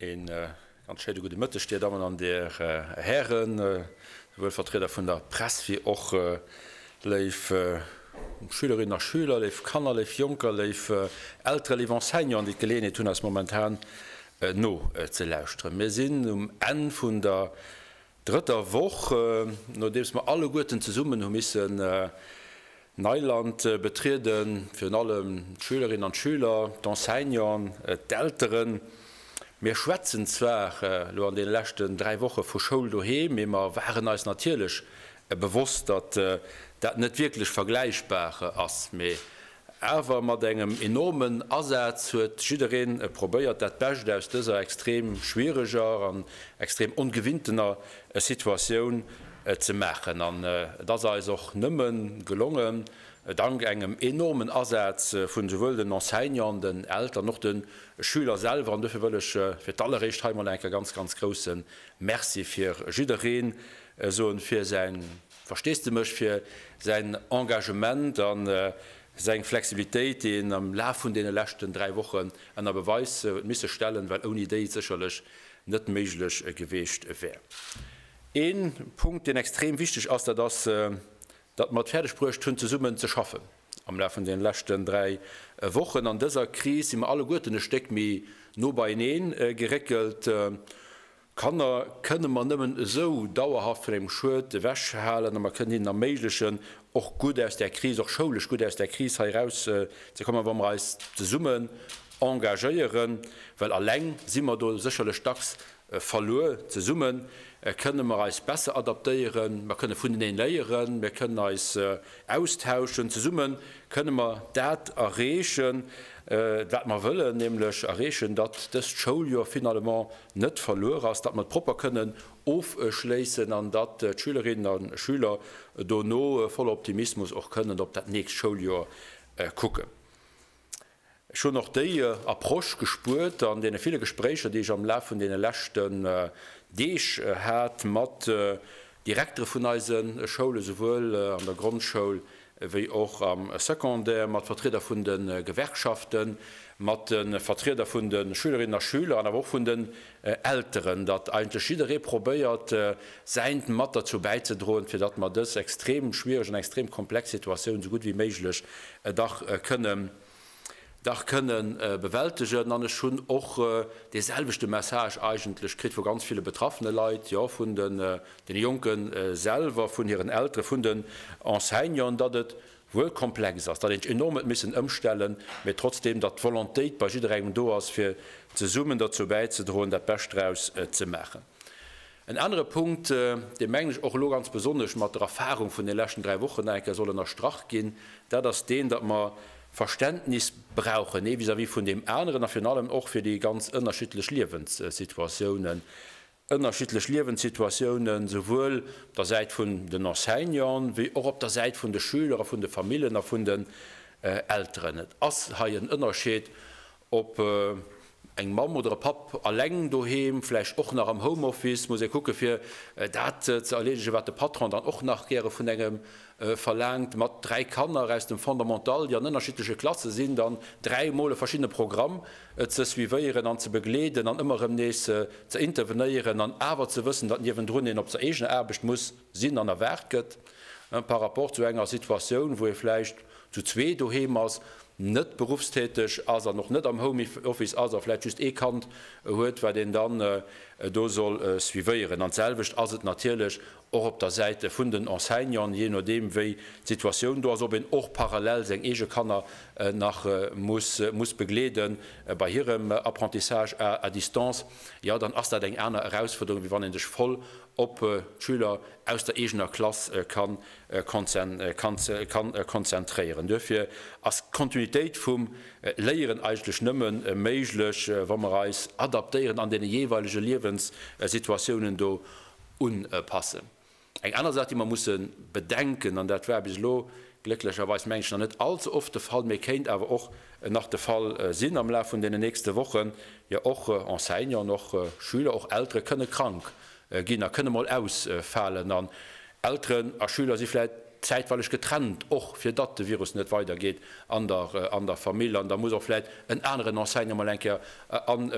Een ganz schéine gudde Mëtteg, Dir Dammen an Dir Hären, souwuel Vertrieder vun der Press wéi och léif Schülerinnen a Schüler, léif Kanner, léif Jonker, léif Elteren, léif Enseignanten, déi d'Geleeënheet hunn, eis momentan no ze lauschteren. Mir sinn um Enn vun der Drëtter Woch, nodeems mer alleguerten zesummen hu missen Neiland betrieden, virun allem d'Schülerinnen an d'Schüler, d'Enseignanten, d'Elteren. Mir schwätzen zwar elo an deene leschten dräi Woche vu Schoul doheem, mee mer waren eis natierlech bewosst, datt dat net wierklech vergläichbar ass, mee Awer mat engem enormen Asaz huet jiddereen probéiert, dat Bescht aus dëser extrem schwiereger an extrem ongewintener Situatioun ze maachen. An et ass eis och nëmme gelongen, dank engem enormen Asaz vun esouwuel den Enseignanten, den Eltern, och de Schüler selwer. An dofir wëll ech fir d'alleréischt hei emol eng Kéier ganz, ganz grousse Merci fir jiddereen soen, fir säin Versteesdemech fir säin Engagement a seng Flexibilitéit, déi en am Laf vun deene leschten dräi Wochen ënner Beweis huet misse stellen, well ouni déi et sécherlech net méiglech gewiescht wär. Ee Punkt, deen extrem wichteg ass, dat ass, datt mer et fäerdeg bruecht hunn, zesummen ze schaffen am Laf vun deene leschten dräi Wochen. An dëser Kris si mer alleguerten e Stéck méi no beienee geréckelt. Kanner kënne mer nëmmen esou dauerhaft vun engem Schued ewech halen a mer kënnen hinnen erméiglechen, och gutt aus där Kris, och schoulesch gutt aus där Kris hei eraus ze kommen, wa mer eis zesummen engagéieren. Well eleng si mer do sécherlech dacks verluer. Zesumme kënne mer eis besser adaptéieren, mer kënne vuneneen léieren, mir kënnen eis austauschen. Zesumme kënne mer dat erreechen, wat mer wëllen, nämlech erreechen, datt dëst Schouljoer finalement net verluer ass, datt mer et propper kënnen ofschléissen an datt d'Schülerinnen a Schüler dono voller Optimismus och kënnen op dat nächst Schouljoer kucken. Ech hunn och déi Approche gespuert an deene ville Gespréicher, déi ech am Laf vun deene leschten Deeg hat mat Direktere vun eise Schoule souwuel an der Grondschoul ewéi och am Secondaire, mat Vertrieder vun de Gewerkschaften, mat de Vertrieder vun de Schülerinnen a Schüler an awer och vun den Elteren, datt eigentlech jidderee probéiert, Säint mat derzou bäizedroen, fir datt mer dës extrem schwierig an extrem komplex Situatioun esou gutt ewéi méiglech dach kënne dach kënne bewältegen. An ech hunn och dee selwechte Message eigentlech kritt vu ganz ville betraffene Leit, jo vun de Jonke selwer, vun hiren Eltere, vun den Enseignanten, datt et wuel komplex ass, datt ee sech enorm huet missen ëmstellen, mee trotzdeem, datt d'Volontéit bei jidderengem do ass, fir zesummen derzou bäizedroen, dat Bescht draus ze maachen. En anere Punkt, dee mengen ech och elo ganz besonnesch mat der Erfahrung vun de leschten dräi Wochen nach eng Kéier soll ënnerstrach ginn, dat ass deen, datt mer Verständnis brauchen, ee vis-à-vis vun deem aneren a virun allem och fir déi ganz ënnerschiddlech Liewenssituatiounen, ënnerschiddlech Liewenssituatiounen souwuel op der Säit vun den Enseignanten wéi och op der Säit vun de Schüler a vun de Famillen a vun den Elteren. Et ass hei en Ënnerscheed, Ob eng Mamm oder e Papp alleng doheem, vläicht och nach am Homeoffice, muss ee kucken, fir dat ze erleedegen, wat de Patron dann och nach gäre vun engem verlaangt. Mat dräi Kanner aus dem Fondamental, déi an ënnerschiddleche Klasse sinn, dann dräi Mol e verschiddene Programm ze suivéieren an ze begleeden an ëmmer erëm nees ze intervenéieren an awer ze wëssen, datt niewendrun een op der eegener Aarbecht muss, sinn an erwaart gëtt, par rapport zu enger Situatioun, wou ee vläicht zu zwee doheem ass, net beruffstäteg ass an och net am Homeoffice ass a vläicht just ee Kand huet, wat een dann do soll suivéieren. An d'selwecht ass et natierlech och op der Säite vun den Enseignanten, jee nodeem wéi d'Situatioun do ass, ob een och parallel seng eege Kanner nach muss begleede bei hirem Apprentissage à distance, jo dann ass dat eng aner Erausfuerderung, wéi wann ee sech voll op d'Schüler aus der eegener Klass kann konzentréieren. Duerfir ass d'Kontinuitéit vum Léieren eigentlech nëmme méiglech, wa mer eis adaptéieren an deene jeeweilege Liewenssituatiounen do unpassen. Eng aner Saach, déi mer musse bedenken, an dat war bis elo glécklecherweis, mengen ech, nach net allze oft de Fall, mee kéint awer och nach de Fall sinn am Laf vun deenen nächste Wochen, Jo, och Enseignanten, och Schüler, och Eltere kënne krank ginn a kënne mol ausfalen. An Elteren a Schüler si vläit zäitweileg getrennt, och fir datt de Virus net weidergeet an der Famill. An da muss och vläit en aneren Enseignant mol eng Kéier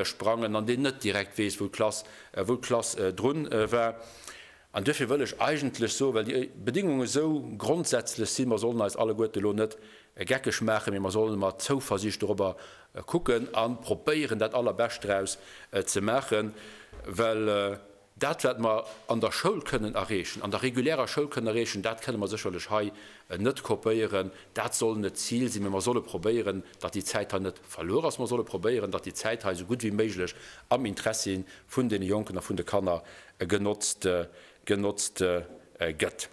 asprangen an deen net direkt weess, wou d'Klass drun war. An duerfir wëll ech eigentlech soen, well déi Bedéngungen esou grondsätzlech sinn, mer sollen eis alleguerte lo net geckeg maachen, mee mer sollen mat Zouversicht dorobber kucken a propéieren dat Allerbescht draus ze maachen, well dat wat mer an der Schoul kënnen erreechen, an der regulärer Schoul kënnen erreechen, dat kënnen mer sécherlech hei net kopéieren. Dat soll net d'Zil sinn, mee mer solle probéieren, datt déi Zäit hei net verluer ass. Mer solle probéieren, datt déi Zäit hei esou gutt wéi méiglech am Interessi vun deene Jonken a vun de Kanner genotzt gëtt.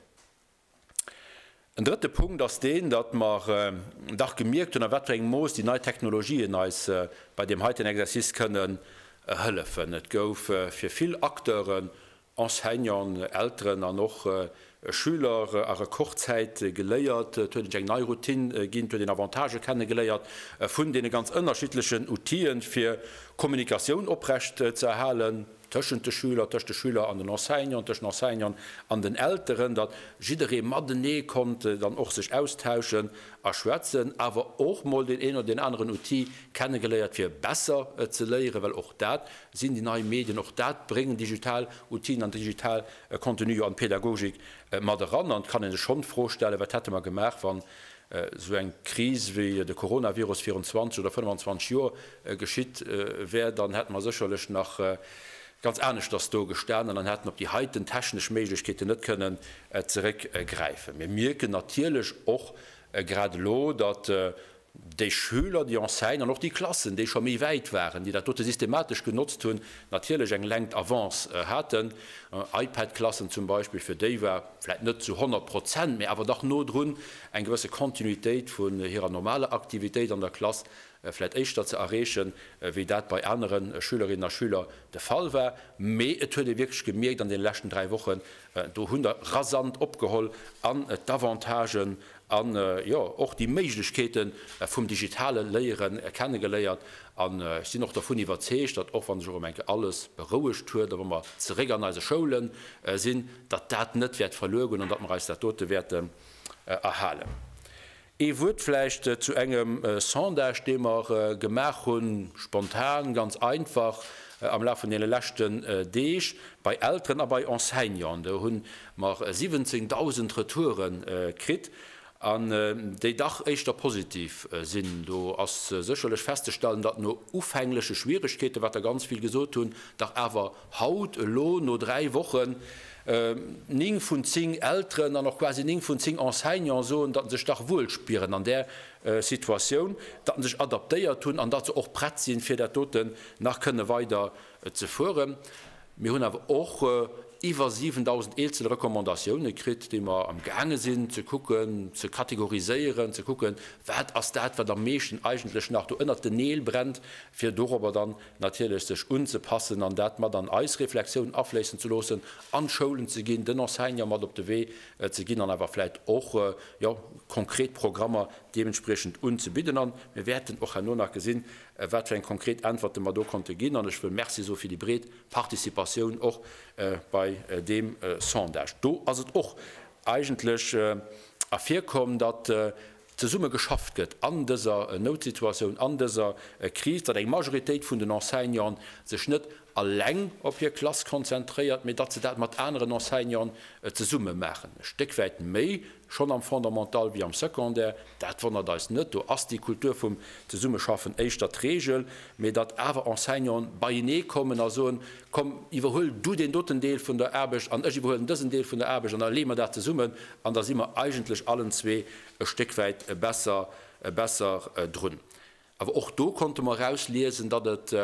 En drëtte Punkt ass deen, datt mer dach gemierkt hunn, a wat fir engem Mooss déi nei Technologien eis bei deem heiten Exercice kënnen hëllefen. Et gouf fir vill Acteuren, Enseignanten, Elteren an och Schüler, a Rekordzäit geléiert. Et huet een sech eng nei Routine ginn, et huet een Avantagë kenne geléiert vun deene ganz ënnerschiddlechen Outile fir Kommunikatioun oprecht ze erhalen. tëschent de Schüler, tëscht de Schüler an den Enseignanten, tëschent Enseignanten an den Elteren, datt jidderee matenee konnt dann och sech austauschen a schwätzen, awer och mol deen een oder deen aneren Outil kennegeléiert fir besser ze léieren, well och dat sinn déi nei Medien, och dat bréngen digital Outile an digital Contenue jo an d'Pädagogik mat eran. An et kann ee sech schonn d'Fro stellen, wat hätte mer gemaach, wann Esou eng Kris wéi de Coronavirus virun 20 oder 25 Joer geschitt wär, dann hätte mer sécherlech nach ganz aneschters do gestan an dann hätt en op déi heiten technesch Méiglechkeeten net kënnen zeréck gräifen. Mir mierken natierlech och grad elo, datt déi Schüler, déi Enseignanten an och déi Klassen, déi scho méi wäit waren, déi dat dote systematesch genotzt hunn, natierlech eng lengt Avance haten. Ipad-Klassen zum Beispill, fir déi war. vläit net zu 100 Prozent, mä awer dach no drun, eng gewësse Continuitéit vun hirer normaler Aktivitéit an der Klass vläit éischter ze erreechen, wéi dat bei anere Schülerinnen a Schüler de Fall war. Mä et huet ee wierklech gemierkt an deene leschten dräi Wochen, do hunn der rasant opgeholl an d'Avantagen an, jo, och déi Méiglechkeete vum digitale Léiere kennegeléiert. An ech sinn och dervun iwwerzeegt, datt, och wann sech och ëm enke alles berouegt huet a wa mer zeréck an eise Schoule sinn, datt dat net wäert verluer goen an datt mer eis dat dote wäerten erhalen. Ee Wuert vläicht zu engem Sondage, dee mer gemaach hunn, spontan, ganz einfach, am Laf vun deene leschten Deeg bei Elteren a bei Enseignanten. Do hu mer 17.000 Retoure kritt an déi dach éischter positiv sinn. Do ass sécherlech festzestellen, datt no ufängleche Schwieregkeeten, wat der ganz vill gesot hunn, dach awer Haut, elo, no dräi Wochen, néng vun zéng Elteren an och quasi néng vun zéng Enseignanten soen, datt se sech dach wuel spieren an där Situatioun, datt se sech adaptéiert hunn an datt se och prett sinn, fir dat dote nach kënne weider ze fueren. Mir hunn awer och iwwer 7.000 eenzel Recommandatioune kritt, déi mer amgaange sinn ze kucken, ze kategoriséieren, ze kucken, wat ass dat, wat am meeschten eigentlech nach do ënnert den Neel brennt, fir dorobber dann natierlech sech unzepassen an dat mat an eis Reflexioun afléissen ze loossen, an d'Schoulen ze ginn, den Enseignant mat op de Wee ze ginn an awer vläit och, jo, konkret Programmer deementspriechend unzebidden. An mir wäerten och herno nach gesinn, wat fir eng konkret Äntwerte mer do konnte ginn. An ech wëll Merci soe fir déi breet Participatioun och bei deem Sondage. Do ass et och eigentlech ervirkomm, datt zesumme geschafft gëtt an dëser Noutsituatioun, an dëser Kris, datt eng Majoritéit vun den Enseignanten sech net eleng op hir Klass konzentréiert, mee datt se dat mat aneren Enseignanten zesumme maachen, e Stéck wäit méi schonn am Fondamental wéi am Secondaire. Dat wonnert eis net, do ass déi Kultur vum Zesummeschaffen éischter d'Reegel. Mee datt awer Enseignanten beienee kommen a soen, komm iwwerhuel du deen doten Deel vun der Aarbecht an ech iwwerhuelen dësen Deel vun der Aarbecht an da leeë mer dat zesummen an da si mer eigentlech allen zwee e Stéck wäit besser drun. Awer och do konnte mer erausliesen, datt et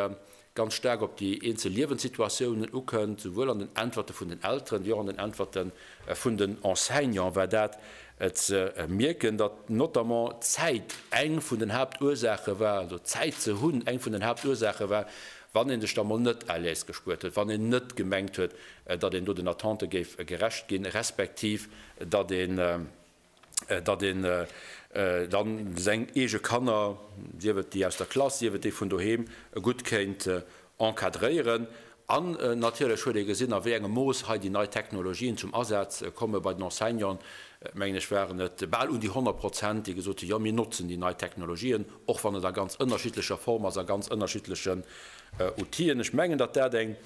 ganz staark op déi eenzel Liewenssituatiounen ukënnt, souwuel an den Äntwerte vun den Elteren, wéi och an den Äntwerte vun den Enseignanten war dat ze mierken, datt notamment d'Zäit eng vun den Haaptursaache war, also Zäit ze hunn, eng vun den Haaptursaache war, wann ee sech da mol net à l'aise gespuert huet, wann een net gemengt huet, datt een do den Attente géif gerecht ginn, respektiv datt ee datt een da seng eege Kanner, sief et déi aus der Klass, sief et déi vun doheem, gutt kéint encadréieren. An natierlech huet ee gesinn, a wéi engem Mooss hei déi nei Technologien zum Asaz komme bei den Enseignanten, mengen ech waren et bal un déi 100 Prozent, déi gesot hunn, jo mir notzen déi nei Technologien, och wann et a ganz ënnerschiddlecher Form ass, a ganz ënnerschiddlechen Outill'en. Ech mengen, datt dat eng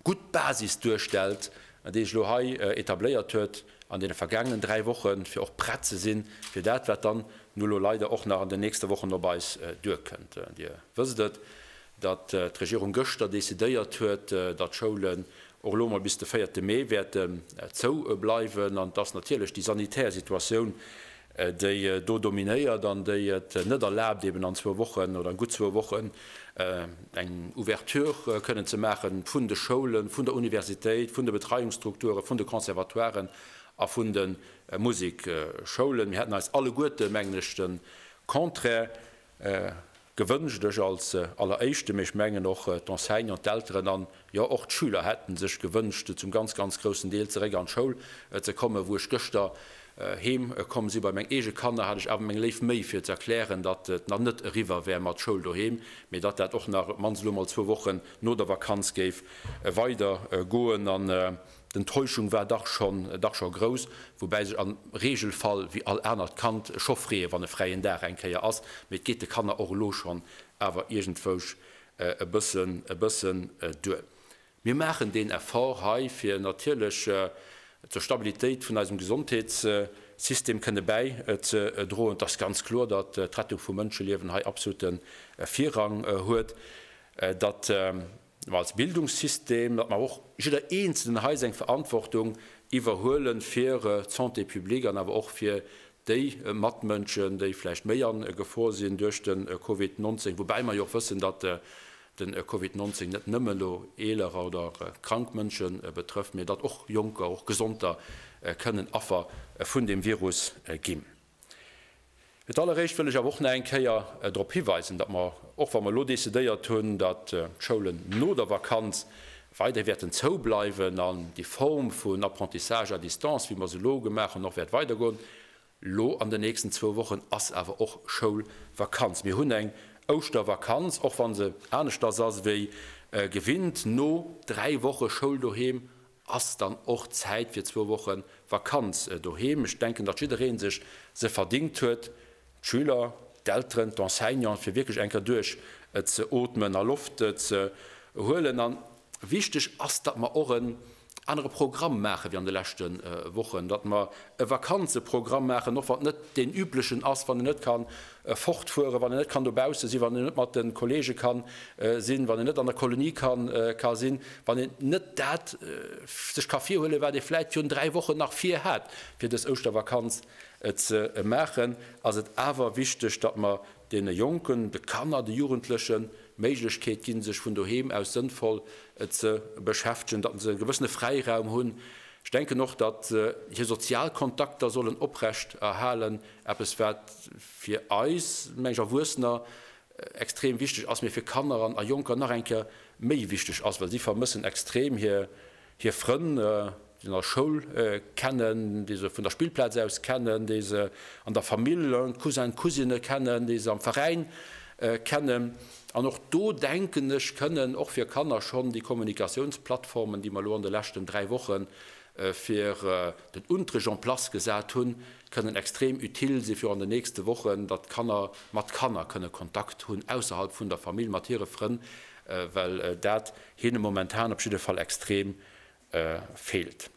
gutt Basis duerstellt, déi sech elo hei etabléiert huet. an deene vergaangenen dräi Wochen, fir och prett ze si fir dat, wat dann no elo leider och nach an den nächste Wochen op eis duerkënnt. Dir wësst et, datt d'Regierung gëschter decidéiert huet, datt d'Schoulen och elo emol bis de véierte Mee wäerten zou bleiwen an datt natierlech déi sanitär Situatioun, déi do dominéiert an déi et net erlaabt, eben an zwou Wochen oder an gutt zwou Wochen eng Ouverture kënnen ze maache vun de Schoulen, vun der Universitéit, vun de Betreiungsstrukturen, vun de Conservatoiren a vun de Musikschoulen. Mir hätten eis alleguerte, mengen ech, de Contraire Gewënscht. Ech als Alleréischte, mee ech mengen och d'Enseignanten, d'Elteren an jo och d'Schüler hätte sech gewënscht, zum ganz, ganz groussen Deel zeréck an d'Schoul ze kommen. Wou ech gëschter heem komm si bei meng eege Kanner, hat ech awer meng léif Méi fir ze erklären, datt et nach net eriwwer wär mat Schoul doheem, mee datt dat och nach op d'mannst elo emol zwou Wochen no der Vakanz géif weider goen. An D'Enttäuschung war dach schon dach schon grouss, woubäi sech am Regelfall wéi all anert Kand scho freeë wann e fräien Dag eng Kéier ass, mee et geet de Kanner och elo schon awer iergendwousch e bëssen e bëssen duer. Mir maachen deen Effort hei fir natierlech zur Stabilitéit vun eisem Gesondheetssystem kënne bäi ze droen. Et ass ganz kloer, datt d'Rettung vu Mënscheliewen hei absolutte Virrang huet, datt Mä als Bildungssystem, datt mer och jidder Eenzelnen hei seng Verantwortung iwwerhuelen fir d'Santé publique an awer och fir déi Matmënschen, déi vläicht méi an Gefor sinn duerch de Covid 19, woubäi mer jo och wëssen, datt de Covid 19 net nëmme elo eelerer oder krank Mënsche betrëfft, mä datt och Jonker, och Gesonder kënnen Affer vun deem Virus ginn. Fir d'alleréischt wëll ech awer och nach eng Kéier drop hiweisen, datt mer, och wa mer elo decidéiert hunn, datt d'Schoulen no der Vakanz weiderhi wäerten zoubleiwen an déi Form vun Apprentissage à distance, wéi mer se elo gemaach hunn, och wäert weidergoen. Elo an den nächsten zwou Wochen ass awer och Schoulvakanz. Mir hunn eng Ouschtervakanz, och wa se aneschters ass wéi gewinnt, no dräi Woche Schoul doheem. ass dann och Zäit fir zwou Woche Vakanz doheem. Ech denken, datt jidderee sech se verdingt huet, d'Schüler, d'Elteren, d'Enseignanten, fir wierklech eng Kéier duerch ze ootmen a Loft ze huelen. A wichteg ass, datt mer och en anere Programm maachen, wéi an de leschte Wochen, datt mer e Vakanzeprogramm maachen, och wann et net deen üblechen ass, wann een net ka fortfueren, wann en net kann dobausse sinn, wann en net mat de Kollege ka sinn, wann en net an der Kolonie ka sinn, wann en net dat sech ka virhuelen, wat ee vläit virun dräi Wochen nach virhat, fir dës Ouschtervakanz ze maachen, ass et awer wichteg, datt mer deene Jonken, de Kanner, de Jugendlechen d'Méiglechkeet ginn, sech vun doheem aus sënnvoll ze beschäftegen, datt se e gewëssene Fräiraum hunn. Ech denken och, datt hir sozial Kontakter sollen oprecht erhalen. Eppes wat fir eis, meng ech, Erwuessener extrem wichteg ass, mee fir Kanner an a Jonker nach eng Kéier méi wichteg ass, well si vermëssen extrem hir Frënn, déi se an der Schoul kennen, déi se vun der Spillplaz aus kennen, déi se an der Famill, Cousin, Cousine, kennen, déi se am Veräin kennen. An och do, denken ech, kënnen och fir Kanner schonn déi Kommunikatiounsplattformen, déi mer elo an de leschten dräi Woche fir den Unterricht en place gesat hunn, kënnen extrem utile si fir an den nächste Wochen, datt d'Kanner mat Kanner kënne Kontakt hunn ausserhalb vun der Famill, mat hire Frënn, well dat hinne momentan op jidde Fall extrem feelt.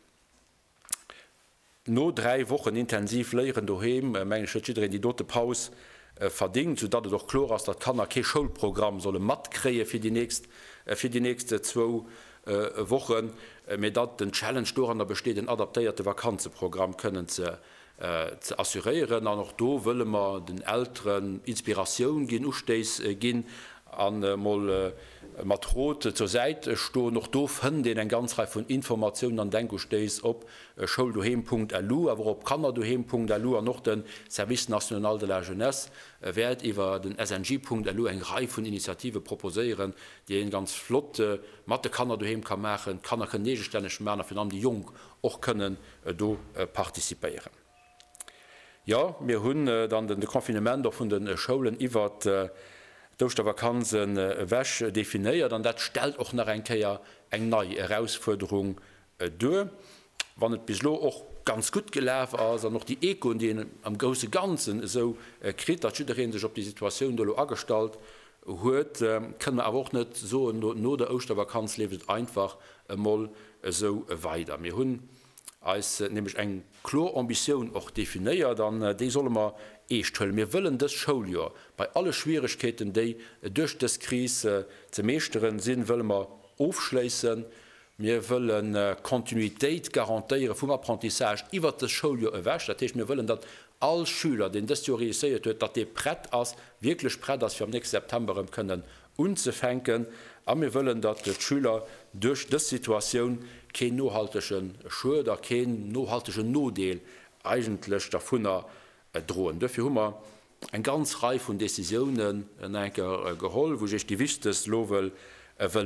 No dräi Wochen intensiv Léieren doheem, mengen ech, huet jiddereen déi dote Paus verdingt, sou datt et och kloer ass, datt d'Kanner kee Schoulprogramm solle matkréie fir déi nächst zwou Wochen, mee datt den Challenge doranner besteet, en adaptéierte Vakanzeprogramm kënnen ze assuréieren. An och do wëlle mer den Elteren Inspiratioun ginn, Ustéiss ginn a mol mat Rot zur Säit stoen. Och do fënnt een eng ganz Rei vun Informatiounen an Denkustéiss op schouldoheem.lu, awer och op kannerdoheem.lu. An och de Service national de la jeunesse wäert iwwer den sng.lu eng Rei vun Initiative proposéieren, déi een ganz flott mat de Kanner doheem ka maachen, d'Kanner kënnen eegestänneg maachen a virun allem déi Jonk och kënnen do participéieren. Jo, mir hunn dann den Confinement och vun de Schoulen iwwer d'Ouschtervakanz ewech definéiert an dat stellt och nach eng Kéier eng nei Erausfuerderung Duer, wann et bis elo och ganz gutt gelaf ass an och déi Echoen, déi een am grousse Ganzen esou kritt, datt jidderee sech op déi Situatioun do elo agestallt huet, kënne mer awer och net soen, no der Ouschtervakanz leeft et einfach emol esou weider. Mir hunn eis nämlech eng kloer Ambitioun och definéiert an déi solle mer eescht huelen. Mir wëllen dëst Schouljoer, bei alle Schwierigkeeten, déi duerch dës Kris ze meeschteren sinn, wëlle mer ofschléissen Mir wëllen Kontinuitéit garantéiere vum Apprentissage iwwert dës Schouljoer ewech. Dat heescht, mir wëllen, datt all Schüler, deen dëst Joer réusséiert huet, datt dee prett ass, wierklech prett ass, fir am nächste September erëm kënnen unzefänken. A mir wëllen, datt d'Schüler duerch dës Situatioun keen nohaltege Schued a keen nohaltege Nodeel eigentlech dervunner droen. Duerfir hu mer eng ganz Rei vun Décisiounen no enker geholl, wou ech Iech déi wichtegst elo wëll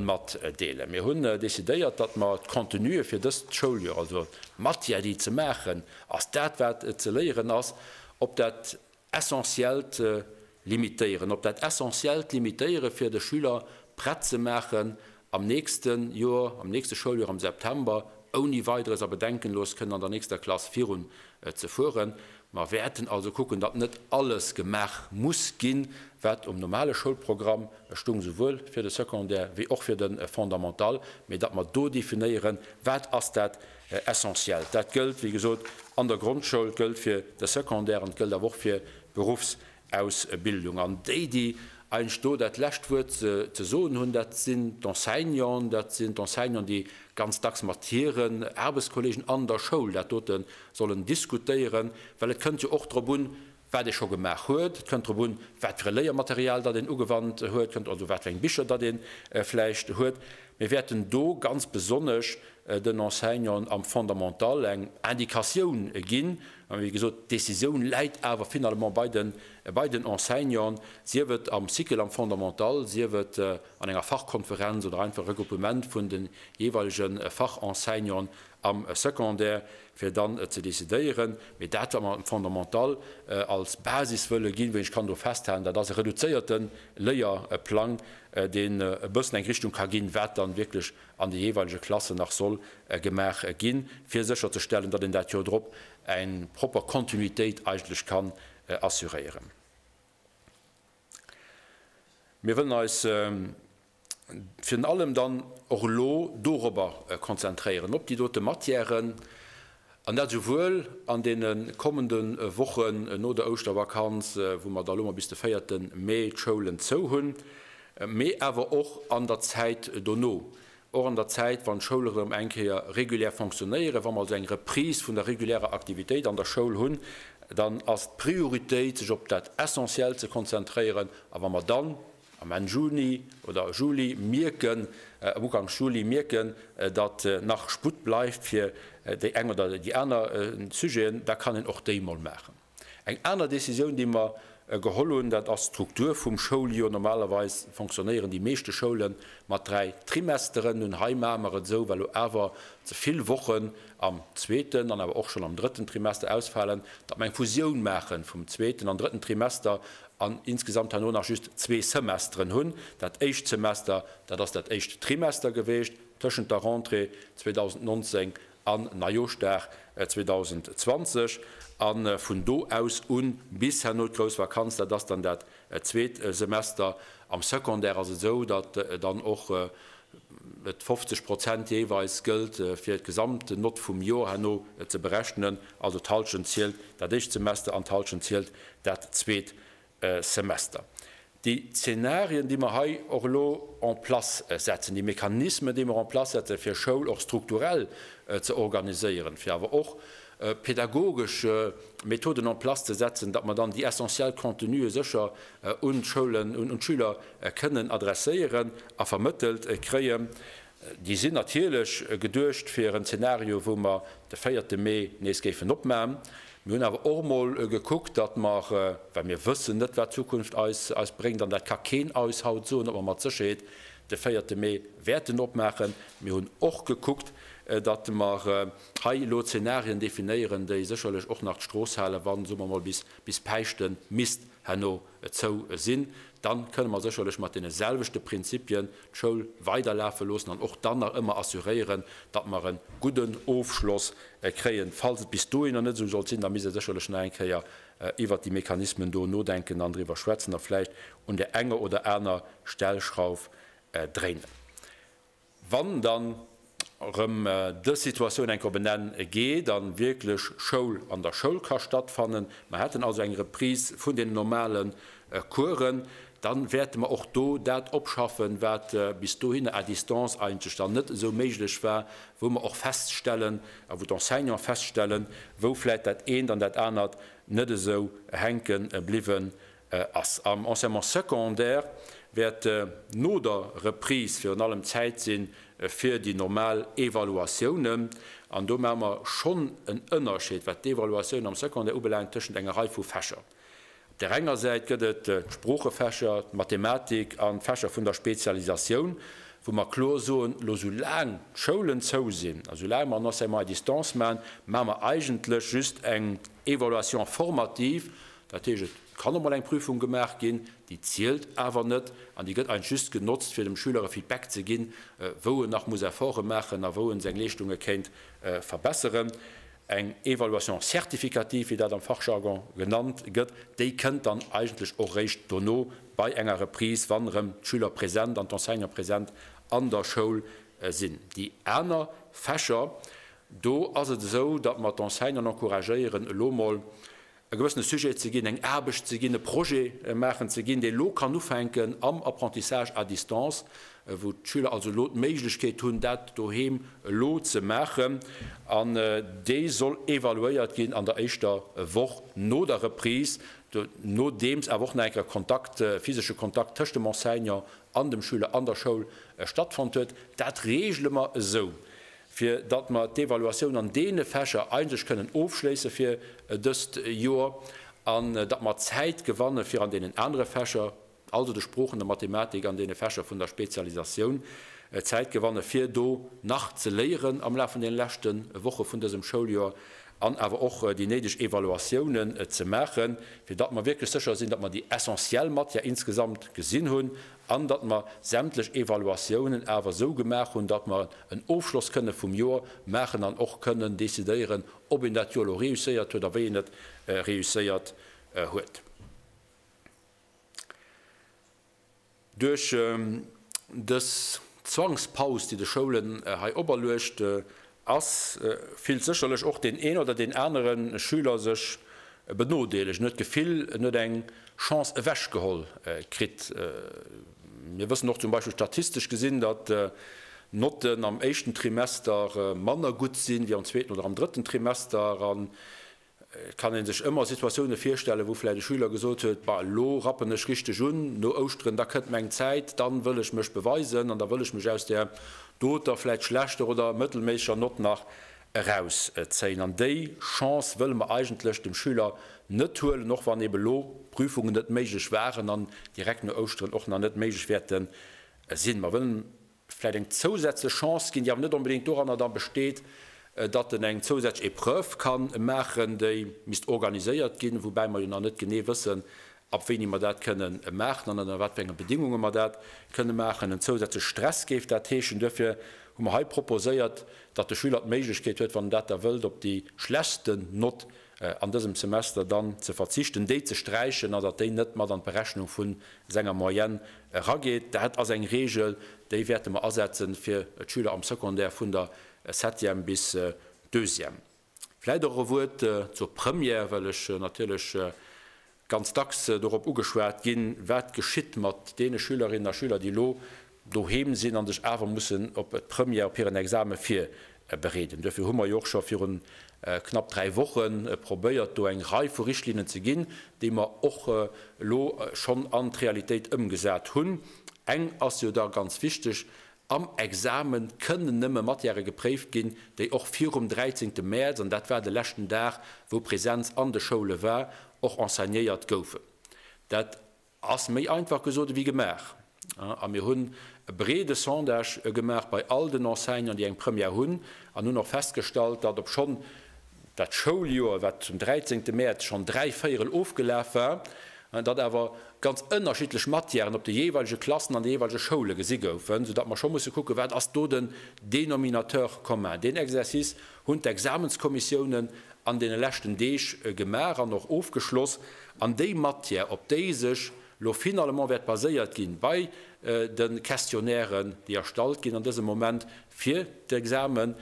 matdeelen. Mir hunn decidéiert, datt mer d'Contenue fir dëst Schouljoer, also d'Matière, déi ze maachen ass, dat wat ze léieren ass, op dat Essentiellt limitéieren, op dat Essentiellt limitéiere fir de Schüler prett ze maachen am nächste Joer, am nächste Schouljoer am September ouni Weideres a bedenkenlos kënnen an der nächster Klass virun ze fueren. Mer wäerten also kucken, datt net alles gemaach muss ginn, wat um normale Schoulprogramm stung, souwuel fir de Secondaire wéi och fir de Fondamental, mee datt mer do definéieren, wat ass dat Essentiellt. Dat gëllt, wéi gesot, an der Grondschoul, gëllt fir de Secondaire an et gëllt awer och fir d'Beruffs. Ausbildung. An déi, déi eigentlech do dat lescht Wuert ze soen hunn, dat sinn d'Enseignanten. Dat sinn d'Enseignanten, déi ganz dacks mat hiren Aarbechtskolleegen an der Schoul dat dote sollen diskutéieren. Well et kënnt jo och drop un, wat ee scho gemaach huet. Et kënnt drop un, wat fir e Léiermaterial datt een ugewannt huet, kënnt also wat fir eng Bicher datt ee vläicht huet. Mir wäerten do ganz besonnesch den Enseignanten am Fondamental eng Indicatioun ginn, Mä wéi gesot, d'Décisioun läit awer finalement bei den, bei den Enseignanten, sief et am Cycle am Fondamental, sief et an enger Fachkonferenz oder einfach e Regruppement vun de jeeweilege Fachenseignanten am Secondaire, fir dann ze decidéieren. Mee dat, wat mer am Fondamental als Basis wëlle ginn, wéi ech kann do festhalen, dat ass e reduzéierte Léierplang, deen e bëssen eng Richtung ka ginn, wat dann wierklech an de jeeweilege Klassen nach soll gemaach ginn, fir sécherzestellen, datt een dat Joer drop eng propper Kontinuitéit eigentlech kann assuréieren. Mir wëllen eis virun allem dann och elo dorobber konzentréieren, op déi dote Matièren, An dat esouwuel an deene kommende Wochen no der Ouschtervakanz, wou mer da lo mol bis de véierte Mee d'Schoulen zou hunn, mee awer och an der Zäit dono, och an der Zäit, wann d'Schoule rëm eng Kéier regulär fonctionnéieren, wa mer also eng Reprise vun der regulärer Aktivitéit an der Schoul hunn, dann ass d'Prioritéit, sech op dat Essentiellt ze konzentréieren. A wa mer dann Am Enn Juni oder Juli mierken, am Uganks Juli mierken, datt nach Sputt bleift fir déi eng oder déi aner Sujeten, da kann een och déi mol maachen. Eng aner Décisioun, déi mer geholl hunn, dat ass d'Struktur vum Schouljoer. Normalerweis fonctionnéieren déi meeschte Schoule mat dräi Trimesteren. Nun, hei maache mer et esou, well elo awer ze vill Wochen am zweeten an awer och schonn am drëtten Trimester ausfalen, datt mer eng Fusioun maachen vum zweeten an drëtten Trimester an insgesamt herno nach just zwee Semesteren hunn. Dat éischt Semester, dat ass dat éischt Trimester geweecht tëschent der Rentrée 2019 an Neijoschdag 2020. A vun do aus u bis herno d'grouss Vakanz, dat ass dann dat zweet Semester. Am Secondaire ass et esou, datt dann och Et 50 Prozent jeeweils gëllt fir d'gesamten Nott vum Jor herno ze berechnen, also d'Hallschent zielt dat éischt Semester an d'Hallschent zielt dat zweet Semester. Déi Zeenarien, déi mer hei och elo en place setzen, déi Mechanismen, déi mer en place setzen, fir Schoul och strukturell ze organiséieren, fir awer och pädagogesch Methoden en place ze setzen, datt mer dann déi essentiell Contenue sécher un d'Schoulen, un d'Schüler kënnen adresséieren a vermëttelt kréien, déi sinn natierlech geduecht fir en Zenario, wou mer de véierte Mee nees géifen opman. Mir hunn awer och emol gekuckt, datt mer, well mir wëssen net, wat d'Zukunft eis bréngt, an dat ka keen eis haut soen, ob mer mat Sécherheet de véierte Mee wäerten opmaachen, mir hunn och gekuckt, datt mer hei elo Zenarien definéieren, déi sécherlech och nach d'Strooss halen, wa, soe mer emol, bis Päischten misst herno et zou sinn, dann kënne mer sécherlech mat deene selwechte Prinzipien d'Schoul weiderlafe loossen an och dann nach ëmmer assuréieren, datt mer e gudden Ofschloss kréien. Falls et bis dohin nach net esou sollt sinn, da misst ee sécherlech nach eng Kéier iwwert déi Mechanismen do nodenken an driwwer schwätzen a vläicht un der enger oder aner Stellschrauf dréinen. Wann dann erëm dës Situatioun enk op en Enn geet a wierklech Schoul an der Schoul ka stattfannen, mer hätten also eng Reprise vun den normale Coursen, da wäerte mer och do dat opschaffen, wat bis dohinner à distance eigentlech dann net esou méiglech war, wou mer och feststellen a wou d'Enseignanten feststellen, wou vläicht dat eent an dat anert net esou hänke bliwwen ass. Am Enseignement secondaire wäert no der Reprise virun allem Zäit si fir déi normal Evaluatiounen. An do maache mer schonn en Ënnerscheed, wat d'Evaluatioun am Secondaire ubelaangt, tëschent enger Rei vu Fächer. Op där enger Säit gëtt et d'Sproochefächer, d'Mathematik an d'Fächer vun der Spezialisatioun, wou mer kloer soen, elo sou laang d'Schoulen zou sinn a sou laang mer en Enseignement à distance maachen, maache mer eigentlech just eng Evaluation formative Dat heescht, et kann och mol eng Prüfung gemaach ginn, déi zielt awer net an déi gëtt eigentlech just genotzt, fir dem Schüler e Feedback ze ginn, wou en nach muss Efforte maachen a wou en seng Leeschtunge kéint verbesseren. Eng Évaluation certificative, wéi dat am Fachjargon genannt gëtt, déi kënnt dann eigentlech och réischt dono bei enger Reprise, wann erëm d'Schüler present an d'Enseignante present an der Schoul sinn. Déi aner Fächer, do ass et esou, datt mer d'Enseignanten encouragéieren, elo mol e gewëssene Sujet ze ginn, eng Aarbecht ze ginn, e Projet maachen ze ginn, dee elo kann ufänken am Apprentissage à distance, wou d'Schüler also elo d'Méiglechkeet hunn, dat doheem elo ze maachen. An dee soll evaluéiert ginn an der éischter Woch no der Reprise, nodeems awer och nach eng Kéier Kontakt, physesche Kontakt tëscht dem Enseignant an dem Schüler an der Schoul stattfonnt huet. Dat reegele mer esou, fir datt mer d'Evaluatioun an deene Fächer eigentlech kënnen ofschléisse fir dëst Joer an datt mer Zäit gewanne fir an deenen anere Fächer, also de Sproochen, der Mathematik an deene Fächer vun der Spezialisatioun, Zäit gewanne fir do nach ze léieren am Laf vun deene leschte Woche vun dësem Schouljoer an awer och déi néideg Evaluatiounen ze maachen, fir datt mer wierklech sécher sinn, datt mer déi essentiell Matière insgesamt gesinn hunn an datt mer sämtlech Evaluatiounen awer esou gemaach hunn, datt mer en Ofschloss kënne vum Jor maachen an och kënnen decidéieren, ob een dat Jor elo réusséiert huet a wéi een et réusséiert huet. Duerch dës Zwangspaus, déi de Schoulen hei operluecht ass, fillt sécherlech och deen een oder deen anere Schüler sech benodeelegt, en huet d'Gefill, en huet eng Chance ewechgeholl kritt. Mir wëssen och zum Beispill statistesch gesinn, datt d'Notten am éischten Trimester manner gutt sinn, wéi am zweeten oder am drëtten Trimester. Et kann ee sech ëmmer Situatioune virstellen, wou vläicht e Schüler gesot huet, Bah, elo rappen ech richteg un, no Ouschteren, da kënnt meng Zäit, dann wëll ech mech beweisen an da wëll ech mech aus där doter, vläicht schlechter oder mëttelméisseger Nott nach erauszéien. An déi Chance wëlle mer eigentlech dem Schüler net huelen, och wann eben elo Prüfungen net méiglech waren an direkt no Ouschteren och nach net méiglech wäerte sinn. Mer wëllen vläit eng zousätzlech Chance ginn, déi awer net onbedéngt doranner da besteet, datt en eng zousätzlech Épreuve ka maachen, déi misst organiséiert ginn, woubäi mer jo nach net genee wëssen, ab wéini mer dat kënne maachen an ënner wat fir enge Bedingunge mer dat kënne maachen. En zousätzleche Stress géif dat heeschen. Duerfir hu mer hei proposéiert, datt de Schüler d'Méiglechkeet huet, wann en dat da wëllt, op déi schlechtsten Nott an dësem Semester dann ze verzichten, déi ze sträichen an datt déi net mat an d'Berechnung vu senger Moyenne erageet. Dat ass eng Reegel, déi wäerte mer asetzen fir d'Schüler am Secondaire vun der Septième bis Deuxième. Vläicht och e Wuert zur Première, well ech natierlech ganz dacks dorop ugeschwat ginn, wat geschitt mat deene Schülerinnen a Schüler, déi elo doheem sinn a sech awer mussen op d'Première, op hiren Exame virbereeden. Duerfir hu mer jo och scho virun knapp dräi Woche probéiert, do eng Rei vu Richtlinnen ze ginn, déi mer och elo schonn an d'Realitéit ëmgesat hunn. Eng ass jo da ganz wichteg, Am Exame kënnen nëmme Matièrë gepréift ginn, déi och virum 13 Mäerz, an dat war de leschten Dag wou Präsenz an de Schoule war, och enseignéiert goufen. Dat ass méi einfach gesot ewéi gemaach. A mir hunn e breede Sondage gemaach bei all den Enseignanten, déi eng Première hunn, an hunn och festgestallt, datt obschonn, Dat Schouljoer, wat zum dräizéngte Mäerz schonn dräi Véierel ofgelaf war, an datt awer ganz ënnerschiddlech Matièren op de jeeweilege Klassen an de jeeweilege Schoule gesi goufen, soudatt mer scho musse kucken, wat ass do den Dénominateur commun. Deen Exercice hunn d'Examenskommissiounen an deene leschten Deeg gemaach an och ofgeschloss. An déi Matière, op déi sech lo finalement wäert baséiert ginn bei de Questionnairen, déi erstallt ginn an dësem Moment, fir d'Examen,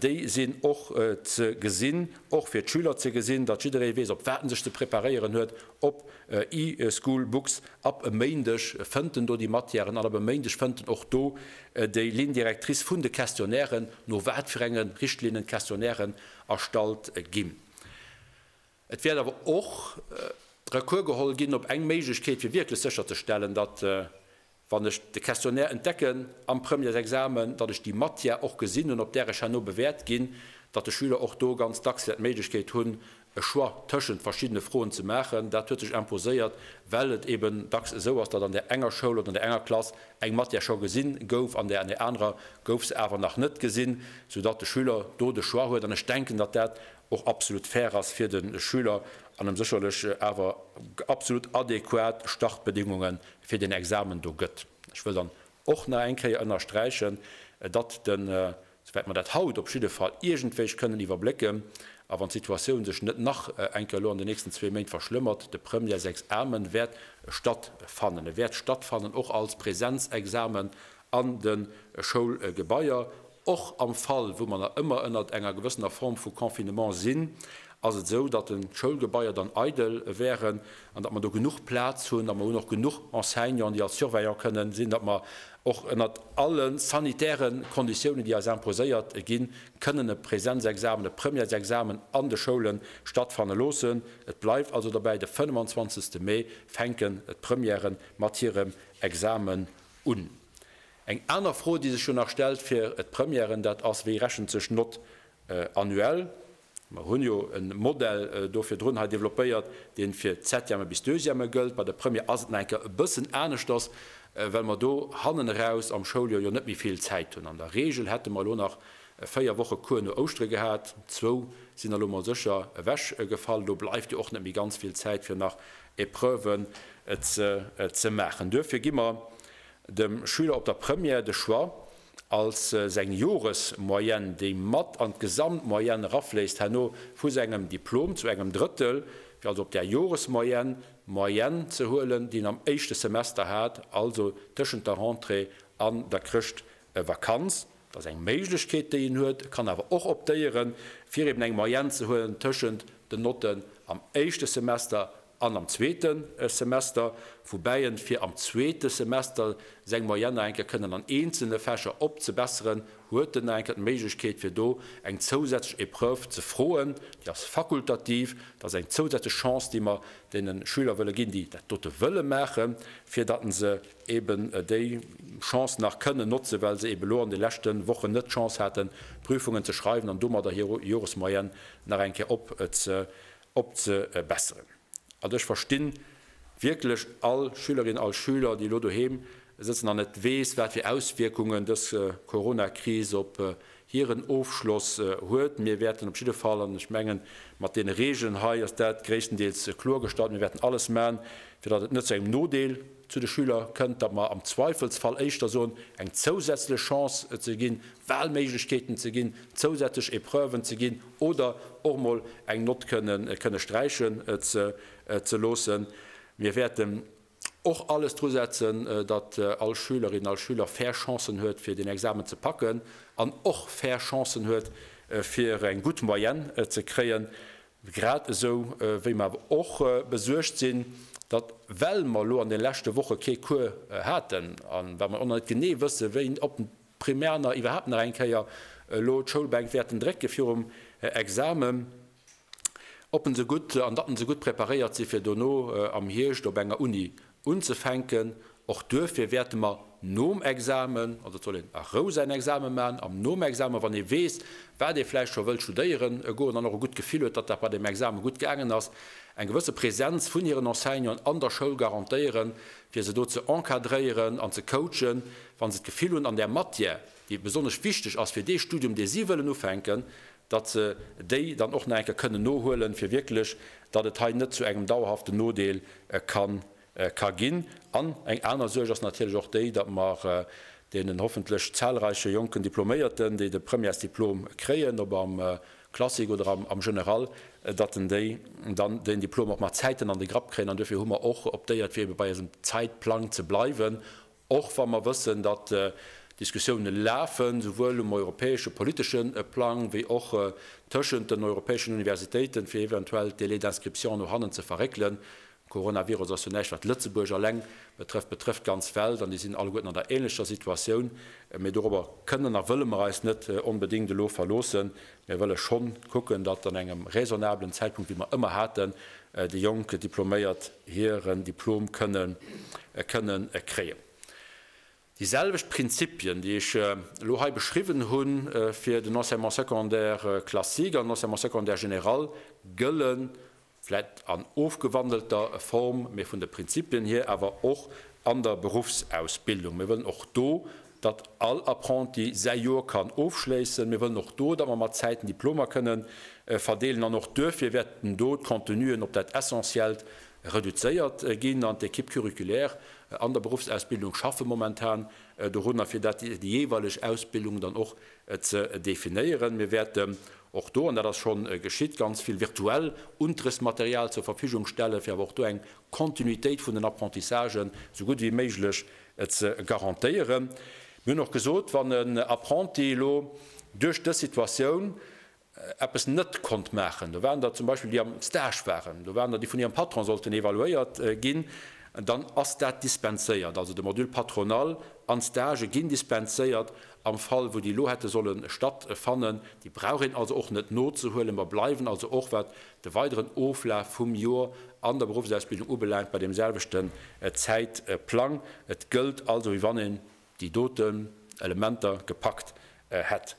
déi sinn och ze gesinn, och fir d'Schüler ze gesinn, datt jidderee weess, op wat en sech ze preparéieren huet, op e-School Books. Ab e Méindeg fënnt en do déi Matièren an ab e Méindeg fënnt en och do déi Ligne directrice vun de Questionnairen, no wat fir enge Richtlinnen d'Questionnairen erstallt ginn. Et wäert awer och Recours geholl ginn op eng Méiglechkeet, fir wierklech sécherzestellen, datt, wann ech de Questionnaire entdecken am Premièresexamen, datt ech déi Matière och gesinn hunn, op där ech herno bewäert ginn, datt de Schüler och do ganz dacks wäert d'Méiglechkeet hunn, e Choix tëschent verschiddene Froen ze maachen. Dat huet sech imposéiert, well et eeben dacks esou ass, datt an där enger Schoul oder an där enger Klass eng Matière scho gesinn gouf, an där an där anerer gouf se awer nach net gesinn, soudatt de Schüler do de Choix huet. An ech denken, datt dat och absolut fair ass fir de Schüler an em sécherlech awer absolut adäquat Startbedingunge fir deen Examen do gëtt. Ech wëll dann och nach eng Kéier ënnersträichen, datt den, souwäit mer dat haut op jidde Fall iergendwéi kënnen iwwerblécken, a wann d'Situatioun sech net nach eng Kéier elo an den nächsten zwee Méint verschlëmmert, de Premières-Examen wäert stattfannen. E wäert stattfannen och als Präsenzexamen an de Schoulgebaier, och am Fall wou mer nach ëmmer ënnert enger gewëssener Form vu Confinement sinn, ass et esou, datt de Schoulgebaier dann eidel wären an datt mer do genuch Plaz hunn a mer hunn och genuch Enseignanten, déi als Surveillant kënnen sinn, datt mer och ënnert alle sanitäre Konditiounen, déi eis imposéiert ginn, kënnen e Präsenzexamen, e Premièresexamen an de Schoule stattfanne loossen. Et bleift also dobäi, de 25. Mee fänken d'Premièren mat hirem Examen Un. Eng aner Fro, déi sech jo nach stellt fir d'Premièren, dat ass, Wéi rechent sech d'Note annuelle? Mer hunn jo e Modell do virdrun hei développéiert, deen fir d'Septièmen bis Deuxièmen gëllt. Bei der Première ass et nach eng Kéier e bëssen aneschters, well mer do hannen eraus am Schouljoer jo net méi vill Zäit hunn. An der Regel hätte mer elo nach véier Woche Cours no Ouschtere gehat, zwou sinn elo mol sécher ewech gefall. Do bleift jo och net méi ganz vill Zäit fir nach Epreuven ze maachen. Duerfir gi mer dem Schüler op der Première de Choix als seng Joresmoyenne, déi mat an d'Gesamtmoyenne erafléisst, herno vu sengem Diplom zu engem Drëttel, fir also op där Joresmoyenne d'Moyenne ze huelen, déi en am éischte Semester hat, also tëschent der Rentrée an der Chrëschtvakanz. Dat ass eng Méiglechkeet, déi een huet. E kann awer och optéieren, fir eben eng Moyenne ze huelen tëschent den Notten am éischte Semester an am zweete Semester, woubäi en fir am zweete Semester seng Moyenne nach eng Kéier kënnen an eenzelne Fächer opzebesseren, huet en nach eng Kéier d'Méiglechkeet, fir do eng zousätzlech Épreuve ze froen. Déi ass fakultativ. Dat ass eng zousätzlech Chance, déi mer deene Schüler wëlle ginn, déi dat dote wëlle maachen, fir datt se eben déi Chance nach kënnen notzen, well se eben elo an de leschte Wochen net d'Chance haten, d'Prüfungen ze schreiwen an domadder hir Joresmoyenne nach eng Kéier opzebesseren. Also ech verstinn wierklech all Schülerin, all Schüler, déi elo doheem sëtzen an net weess, wat fir Auswierkungen dës Coronakris op hiren Ofschloss huet. Mir wäerten op jidde Fall, an ech mengen, mat deene Regeln hei ass dat gréisstendeels kloergestallt, mir wäerten alles man, fir datt et net zu engem Nodeel, Zu de Schüler kënnt, datt mer am Zweifelsfall éischter soen, eng zousätzlech Chance ze ginn, Walméiglechkeeten ze ginn, zousätzlech Epreuven ze ginn oder och mol eng Nott kënne sträichen ze loossen. Mir wäerten och alles dru setzen, datt all Schülerin, all Schüler fair Chancen huet, fir den Examen ze packen an och fair Chancen huet, fir eng gutt Moyenne ze kréien. Grad esou wéi mer awer och besuergt sinn, datt, well mer elo an de leschte Woche kee Cours haten a well mer och nach net genee wëssen, wéi ob d'Primaner iwwerhaapt nach eng Kéier elo d'Schoulbänk wäerten drécke virum Exame, ob en se gutt an datt en se gutt preparéiert si fir dono am Hierscht op enger Uni Unzefänken. Och duerfir wäerte mer nom Examen, also et soll een a Rou säin Examen maachen, an nom Examen, wann ee weess, wat ee vläicht scho wëllt studéieren goen an och e gutt Gefill huet, datt dat bei deem Examen gutt gaangen ass, eng gewësse Präsenz vun hiren Enseignanten an der Schoul garantéieren, fir se do ze encadréieren an ze coachen, wa se d'Gefill hunn, an där Matière, déi besonnesch wichteg ass fir dee Studium, dee si wëllen ufänken, datt se déi dann och nach eng Kéier kënnen nohuelen, fir wierklech, datt et hei net zu engem dauerhaften Nodeel ka ginn. An eng aner Suerg ass natierlech och déi, datt mer deenen hoffentlech zahlreiche jonken Diploméierten, déi de Premièresdiplom kréien, ob am Classique oder am General, datt en déi dann deen Diplom och mat Zäiten an de Grapp kréien. An duerfir hu mer och optéiert, fir ebe bei eisem Zäitplang ze bleiwen, Och wa mer wëssen, datt Diskussioune lafen, souwuel um europäesche politesche Plang wéi och tëschent den europäeschen Universitéiten, fir eventuell d'Délais d'inscription no hannen ze verréckelen. De Coronavirus ass jo näischt, wat Lëtzebuerg alleng betrëfft, betrëfft d'ganz Welt an déi sinn alleguerten an der änlecher Situatioun. Mee dorobber kënnen a wëlle mer eis net onbedéngt elo verloossen, Mir wëlle schonn kucken, datt an engem raisonnablen Zäitpunkt, wéi mer ëmmer haten, déi jonk Diploméiert hiren Diplom kënnen kënnen kréien. Déi selwecht Prinzipien, déi ech elo hei beschriwwen hu fir den Enseignement secondaire classique an den Enseignement secondaire général, gëllen vläit an ofgewandelter Form, mee vun de Prinzipien hier awer och an der Beruffsausbildung. Mir wëllen och do, datt all Apprenti säi Joer kann ofschléissen. Mir wëllen och do, datt mer mat Zäiten Diplomer kënne verdeelen. An och duerfir wäerten do d'Contenuen op dat Essentiellt reduzéiert ginn. An d'Equipe curriculaire an der Beruffsausbildung schaffe momentan dorunner, fir datt déi jeeweileg Ausbildungen dann och Et ze definéieren. Mir wäerten och do, an dat ass schonn geschitt, ganz vill virtuell Unterrichtsmaterial zur Verfügung stellen, fir awer och do eng Kontinuitéit vun den Apprentissagen esou gutt ewéi méiglech ze garantéieren. Mir hunn och gesot, wann en Apprenti elo duerch dës Situatioun eppes net konnt maachen. Do waren der zum Beispill, déi am Stage waren, do waren der, déi vun hirem Patron sollten evaluéiert ginn, dann ass dat dispenséiert. Also de Module Patronal an d'Stagë ginn dispenséiert am Fall, wou déi elo hätte solle stattfannen. Déi brauch een also och net nozehuelen. Mer bleiwen also och, wat de weideren Oflaf vum Jor an der Berufsausbildung ubelaangt, bei deemselwechten Zäitplang. Et gëllt also, wéi wann een déi doten Elementer gepackt hätt.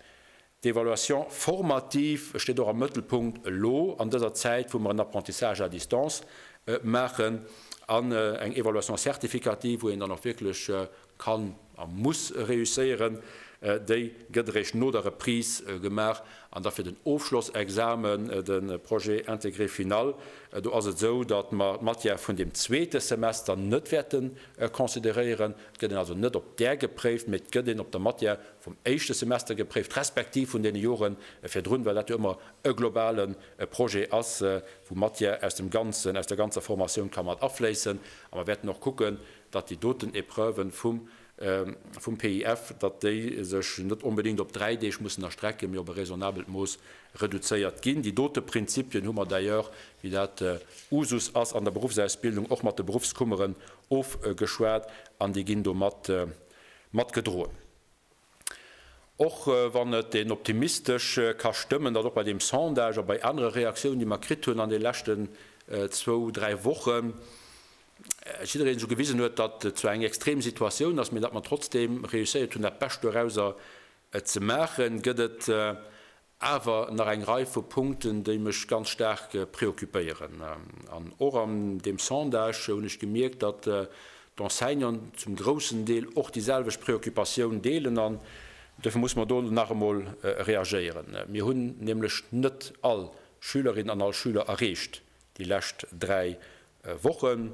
D'Evaluation formative steet och am Mëttelpunkt elo an dëser Zäit, wou mer en Apprentissage à distance maachen an eng Evaluation certificative, wou een dann och wierklech kann a muss réusséieren, déi gëtt eréischt no der Reprise gemaach. An da fir den Ofschlossexamen, de Projet intégré final, do ass et esou, datt mer d'Matière vun dem zweete Semester net wäerte consideréieren. Et gëtt een also net op där gepréift, mee et gëtt een op der Matière vum éischte Semester gepréift, respektiv vun deene Jore virdrun, well dat jo ëmmer e globale Projet ass, wou Matière aus dem ganzen, aus der ganzer Formatioun ka mat afléissen. A mer wäerten och kucken, datt déi doten Épreuven vum, vum PIF, datt déi sech net onbedéngt op dräi Deeg mussen erstrecken, mee op e raisonnabelt Mooss reduzéiert ginn. Déi dote Prinzipien hu mer d'ailleurs, wéi dat Usus ass an der Berufsausbildung, och mat de Berufskummeren ofgeschwat an déi ginn domat matgedroen. Och wann et een optimistesch ka stëmmen, datt och bei deem Sondage a bei anere Reaktiounen, déi mer kritt hunn an de leschten zwou, dräi Wochen, jiddereen esou gewisen huet, datt et zwar eng extrem Situatioun ass, mee datt mer trotzdeem reusséiert hunn, dat Bescht dorausser ze maachen, gëtt et awer nach eng Rei vu Punkten, déi mech ganz staark preoccupéieren. An och an deem Sondage hunn ech gemierkt, datt d'Enseignanten zum groussen Deel och déi selwecht Preoccupatioun deelen. An dofir musse mer do nach emol reagéieren. Mir hunn nämlech net all Schülerin an all Schüler erreecht, déi lescht dräi Wochen.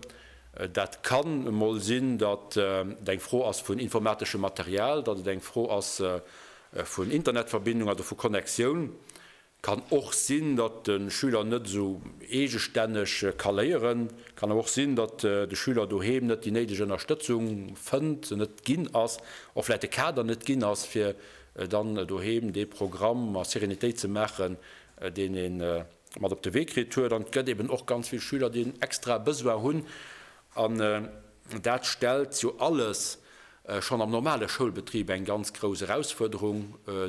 Dat kann emol sinn, datt et eng Fro ass vun informateschem Material, datt et eng Fro ass vun Internetverbindung, also vu Connectioun. Et kann och sinn, datt de Schüler net esou eegestänneg ka léieren. Et kann awer och sinn, datt de Schüler doheem net déi néideg Ënnerstëtzung fënnt, se net ginn ass, och vläicht de Kader net ginn ass, fir dann doheem dee Programm a Serenitéit ze maachen, deen ee mat op de Wee kritt huet. An et gëtt eben och ganz vill Schüler, déi en extrae Besoin hunn. An dat stellt jo alles schonn am normale Schoulbetrib eng ganz grouss Erausfuerderung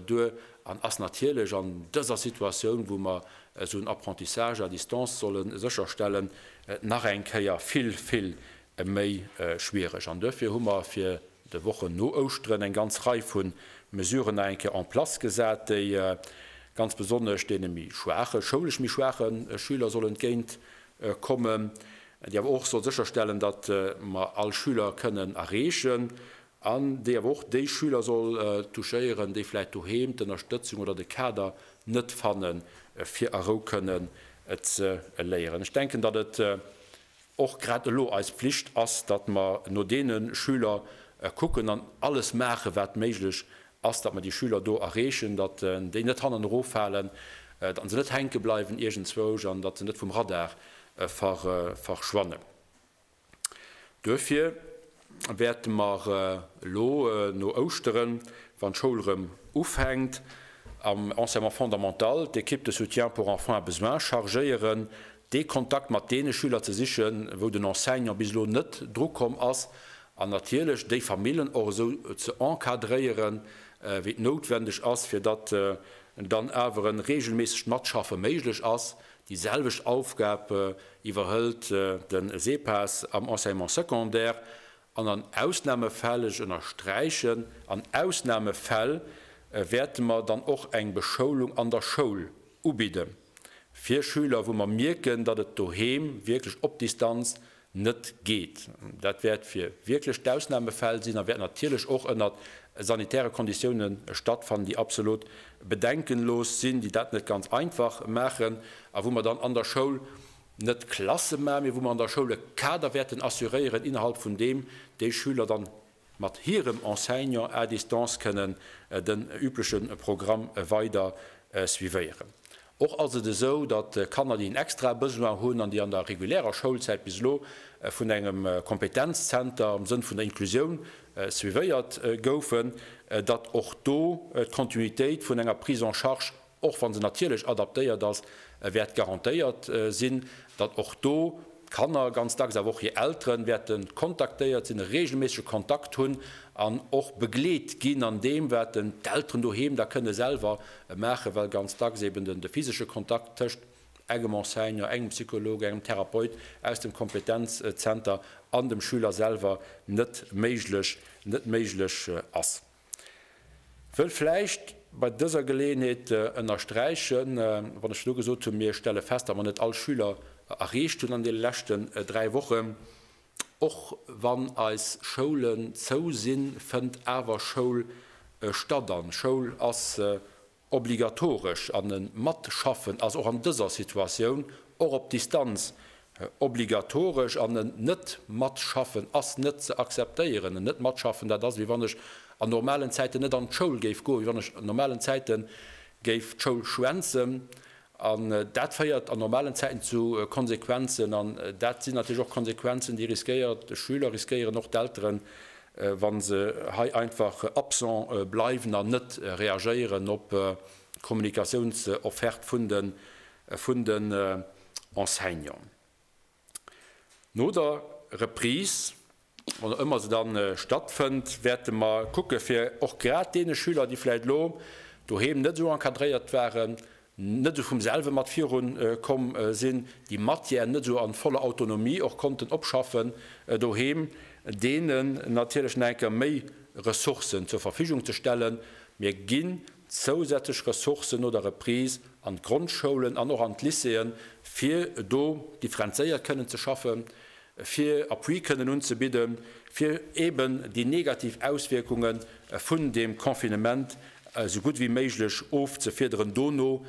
duer an ass natierlech an dëser Situatioun, wou mer esou en Apprentissage à distance solle sécherstellen, nach eng Kéier vill, vill méi schwiereg. An duerfir hu mer fir de Wochen no Ouschteren eng ganz Rei vu Mesuren nach eng Kéier en place gesat, déi ganz besonnesch deene méi schwaachen, schoulesch méi schwaache Schüler soll entgéint kommen, déi awer och soll sécherstellen, datt mer all Schüler kënnen erreechen, an déi awer och déi Schüler soll touchéieren, déi vläicht doheem d'Ënnerstëtzung oder de Kader net fanne fir a Rou kënnen ze léieren. Ech denken, datt et och grad elo eis Pflicht ass, datt mer no deene Schüler kucken an alles maachen, wat méiglech ass, datt mer déi Schüler do erreechen, datt déi net hannen eroffalen, datt se net hänke bleiwen iergendzwousch an datt se net vum Radar verschwannen. Duerfir. wäerte mer elo no Ouschteren, wann d'Schoul erëm ufänkt, am Enseignement fondamental d'Equipe de soutien pour enfants à besoins chargéieren, dee Kontakt mat deene Schüler ze sichen, wou den Enseignant bis elo net drukomm ass, an natierlech déi Famillen och esou ze encadréieren, wéi et noutwendeg ass, fir datt dann awer en reegelméissegt Matschaffe méiglech ass. Déi selwecht Aufgab iwwerhëlt den Sepas am Enseignement secondaire an an Ausnamefäll, ech ënnersträichen, an Ausnamefäll, wäerte mer dann och eng Beschoulung an der Schoul ubidde fir Schüler, wou mer mierken, datt et doheem wierklech op Distanz net geet. Dat wäert fir wierklech d'Ausnamefäll sinn a wäert natierlech och ënnert sanitäre Konditioune stattfannen, déi absolut bedenkenlos sinn, déi dat net ganz einfach maachen a wou mer dann an der Schoul net Klasse maachen, mee wou mer an der Schoul e Kader wäerten assuréieren, innerhalb vun deem déi Schüler dann mat hirem Enseignant à distance kënnen den übleche Programm weider suivéieren. Och ass et esou, datt Kanner, déi en extrae Besoin hunn an déi an der regulärer Schoulzäit bis elo vun engem Kompetenzzenter am Sënn vun der Inklusioun suivéiert goufen, datt och do d'Kontinuitéit vun enger Prise en charge Och wann se natierlech adaptéiert ass, wäert garantéiert sinn, datt och do d'Kanner, ganz dacks awer och hir Elteren, wäerte kontaktéiert sinn, e reegelméissege Kontakt hunn an och begleet ginn an deem, wat d'Elteren doheem da kënne selwer maachen, well ganz dacks eben de physesche Kontakt tëscht engem Enseignant, engem Psycholog, engem Therapeut aus dem Kompetenzzenter an dem Schüler selwer net méiglech ass. Wëll vläicht bei dëser Geleeënheet ënnersträichen, wann ech elo gesot hunn, mir stelle fest, datt mer net all Schüler erreecht hunn an deene leschten dräi Wochen, och wann eis Schoulen zou sinn, fënnt awer Schoul statt an Schoul ass Obligatoresch an e Matschaffen ass och an dëser Situatioun, och op Distanz, obligatoresch an e Net-Matschaffen ass net ze akzeptéieren. En Net-Matschaffen, dat ass, wéi wann ech an normalen Zäiten net an d'Schoul géif goen, wéi wann ech an normalen Zäite géif d'Schoul schwänzen An dat féiert an normalen Zäiten zu Konsequenzen. An dat sinn natierlech och Konsequenzen, déi riskéiert de Schüler, riskéieren och d'Elteren, wa se hei einfach absent bleiwen an net reagéieren op d'Kommunikatiounsofferte vun den Enseignanten. No der Reprise, wann ëmmer se dann stattfënnt, wäerte mer kucke fir och grad deene Schüler, déi vläicht elo doheem net esou encadréiert waren, net esou vum selwe mat viru komm sinn, déi Matière net esou an voller Autonomie och konnten opschaffen doheem, deenen natierlech nach eng Kéier méi Ressourcen zur Verfügung ze stellen. Mir ginn zousätzlech Ressourcen no der Reprise an d'Grondschoulen an och an d'Lycéeën, fir do differenzéiert kënnen ze schaffen, fir Appui kënnen unzebidden, fir eeben déi negativ Auswierkunge vun deem Confinement esou gutt wéi méiglech ofzefiederen dono,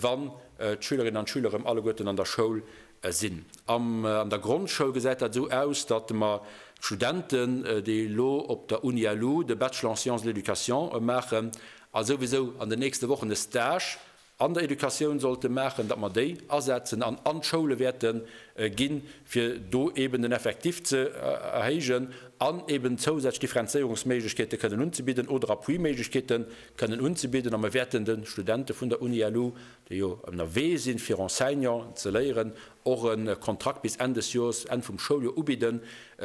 wann d'Schülerinnen an d'Schüler erëm alleguerten an der Schoul sinn. Am an der Grondschoul gesäit dat esou aus, datt mer d'Studenten, déi elo op der UniLu de Bachelor en sciences de l'éducation maachen a souwisou an den nächste Wochen e Stage an der Educatioun sollte maachen, datt mer déi asetzen an an d'Schoule wäerte gi fir do eeben den Effectif ze erhéijen an eeben zousätzlech Differenzéierungsméiglechkeete kënnen unzebidden oder Appuiméiglechkeete kënnen unzebidden. A mer wäerten de Studente vun der UniLu déi jo ënnerwee sinn, fir Enseignant ze léieren, och e Kontrakt bis Enn des Joers, Enn vum Schouljoer ubidden,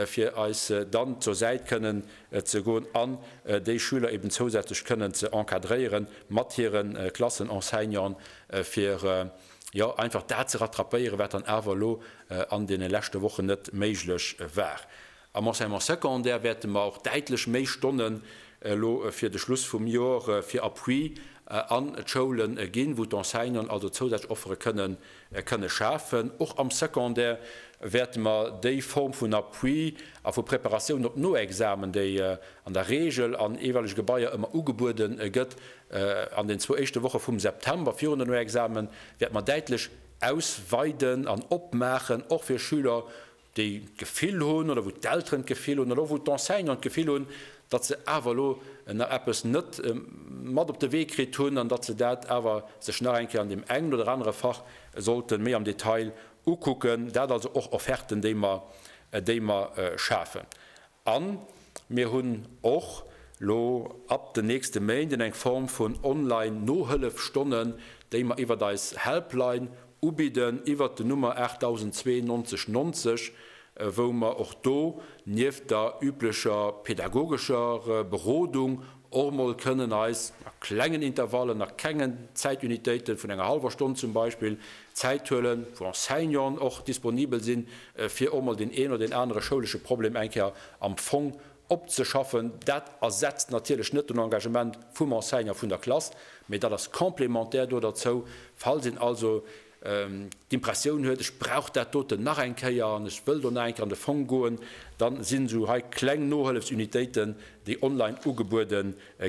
fir eis dann zur Säit kënnen ze goen an déi Schüler eben zousätzlech kënnen ze encadréieren mat hire Klassenenseignanten, fir jo einfach dat ze rattrapéieren, wat dann awer elo an deene leschte Wochen net méiglech war. Am Enseignement secondaire wäerte mer och däitlech méi Stonnen elo fir de Schluss vum Jor fir Appui an d'Schoule ginn, wou d'Enseignanten also zousätzlech Offere kënnen kënnen schafen. Och am Secondaire wäerte mer déi Form vun Appui a vu Preparatioun op Noexamen, déi an der Reegel an eeweilege Gebaier ëmmer ugebuede gëtt, an den zwou éischte Woche vum September virun de Noexamen, wäerte mer däitlech ausweiden an opmaachen, och fir Schüler, déi d'Gefill hunn, oder wou d'Elteren d'Gefill hunn, oder och wou d'Enseignanten d'Gefill hunn, datt se awer elo nach eppes net mat op de Wee kritt hunn an datt se dat awer sech nach eng Kéier an deem engen oder anere Fach sollte méi am Detail ukucken. Dat also och Offerten, déi mer schafen. A mir hunn och lo ab den nächste Méinden eng Form vun Online-Nohëllefstonnen, déi mer iwwert eis Helpline ubidden, iwwert den Nummer 8002 90 90, wou mer och do nieft der üblecher pedagogescher Berodung Och mol kënnen eis, a klengen Intervallen, a klengen Zäitunitéiten vun enger hallwer Stonn zum Beispill, Zäit huelen, wou Enseignanten och disponibel sinn, fir och mol deen een oder deen anere schoulesche Problem eng Kéier am Fong opzeschaffen. Dat ersetzt natierlech net den Engagement vum Enseignant vun der Klass, mee dat ass complémentaire do derzou. Falls een also d'Impressioun huet, ech brauch dat doten nach eng Kéier an ech wëll do nach eng Kéier an de Fong goen, dann sinn esou hei kleng Nohëllefsunitéiten, déi online ugebuede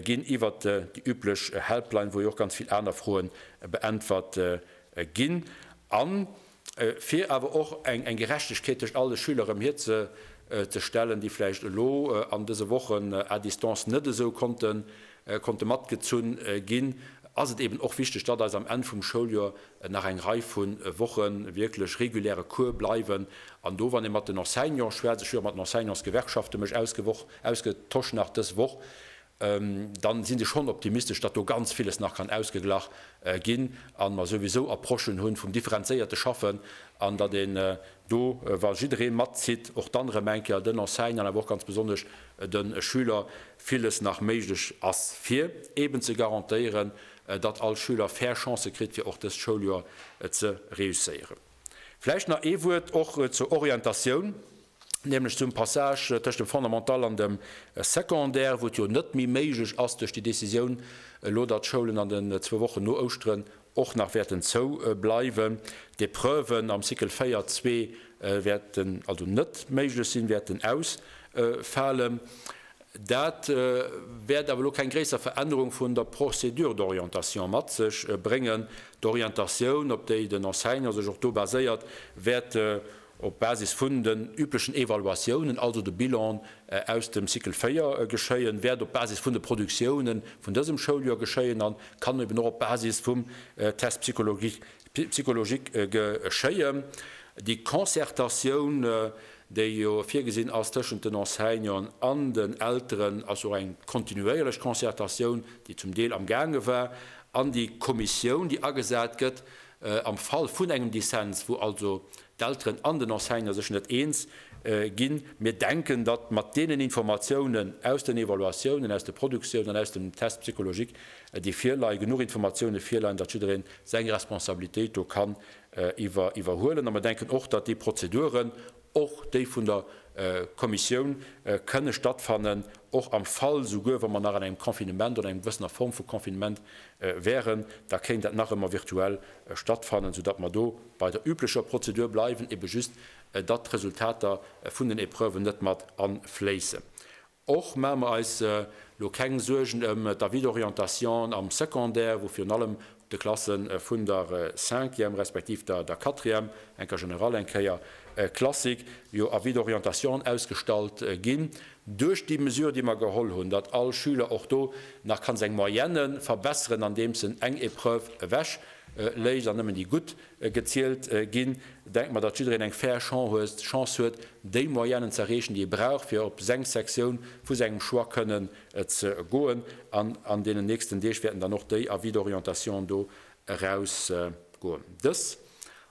ginn iwwert déi üblech Helpline, wou jo och ganz vill aner Froe beäntwert ginn a fir awer och eng Gerechtegkeet tëscht all de Schüler erëm hierzestellen, déi vläicht elo an dëse Wochen à distance net esou konnte konnte matgezunn ginn, ass et eben och wichteg, datt eis am Enn vum Schouljoer nach eng Rei vu Woche wierklech reguläre Cours bleiwen. An do, wann ee mat den Enseignante schwätzt, ech hu jo och mat den Enseignantsgewerkschafte mech ausgewoch, ausgetosch nach dës Woch, dann si se schonn optimistesch, datt do ganz villes nach kann ausgeglach ginn a mer souwisou Approchen hunn vum differenzéierte Schaffen an datt een do, wa jidderee matzitt, och dann erëm eng Kéier den Enseignant, awer och ganz besonnesch de Schüler villes nach méiglech ass, fir eeben ze garantéieren, datt all Schüler fair Chancë kritt, fir och dëst Schouljoer ze réusséieren. Vläicht nach ee Wuert och zur Orientatioun, nämlech zum Passage tëscht dem Fondamental an dem Secondaire, wou et jo net méi méiglech ass duerch déi Décisioun elo, datt d'Schoulen an den zwou Wochen no Ouschteren och nach wäerten zou bleiwen, d'Epreuven am Cycle 4 zwee wäerten also net méiglech sinn, wäerten ausfalen. Dat wäert awer elo keng gréisser Verännerung vun der Procédure d'orientation mat sech bréngen. D'Orientatioun, op déi den Enseignant sech och do baséiert, wäert op Basis vun den üblechen Evaluatiounen, also de Bilanen aus dem Cycle 4, geschéien, wäert op Basis vun de Produktiounen vun dësem Schouljoer geschéien a kann eben och op Basis vum Test psychologique geschéien. Déi Concertatioun, déi jo virgesinn ass tëschent den Enseignanten an den Elteren, ass jo och eng kontinuéierlech Concertatioun, déi zum Deel amgaange war, an déi Kommissioun, déi agesat gëtt, Am Fall vun engem Dissens, wou also d'Elteren an den Enseignant sech net eens ginn, mir denken, datt mat deenen Informatiounen aus den Evaluatiounen, aus de Produktiounen an aus dem Test psychologique, déi virleien, genuch Informatioune virleien, datt jiddereen seng Responsabilitéit do kann iwwerhuelen. A mir denken och, datt déi Prozeduren, Och déi vun der Kommissioun kënne stattfannen, och am Fall, souguer wa mer nach an engem Confinement oder enger gewëssener Form vu Confinement wäeren, da kéint dat nach ëmmer virtuell stattfannen, soudatt mer do bei der üblecher Prozedur bleiwen, ebe just datt d'Resultater vun den Épreuven net mat afléissen. Och maache mer eis elo keng Suergen ëm d'Avis-d'orientation am Secondaire, wou virun allem de Klasse vun der Cinquième respektiv der Quatrième, enker general, eng Kéier classique, jo Avis d'orientation ausgestallt ginn. Duerch déi Mesure, déi mer geholl hunn, datt all Schüler och do nach ka seng Moyenne verbesseren, andeems en eng Épreuve ewech léisst an nëmmen déi gutt gezielt ginn. Denkt mer, datt jiddereen eng fair Chance huet, déi Moyennen z'erreechen, déi e brauch, fir op seng Sektioun vu sengem Choix kënnen ze goen. An an deenen nächsten Deeg wäerten dann och déi Avis d'orientation do erausgoen. Dës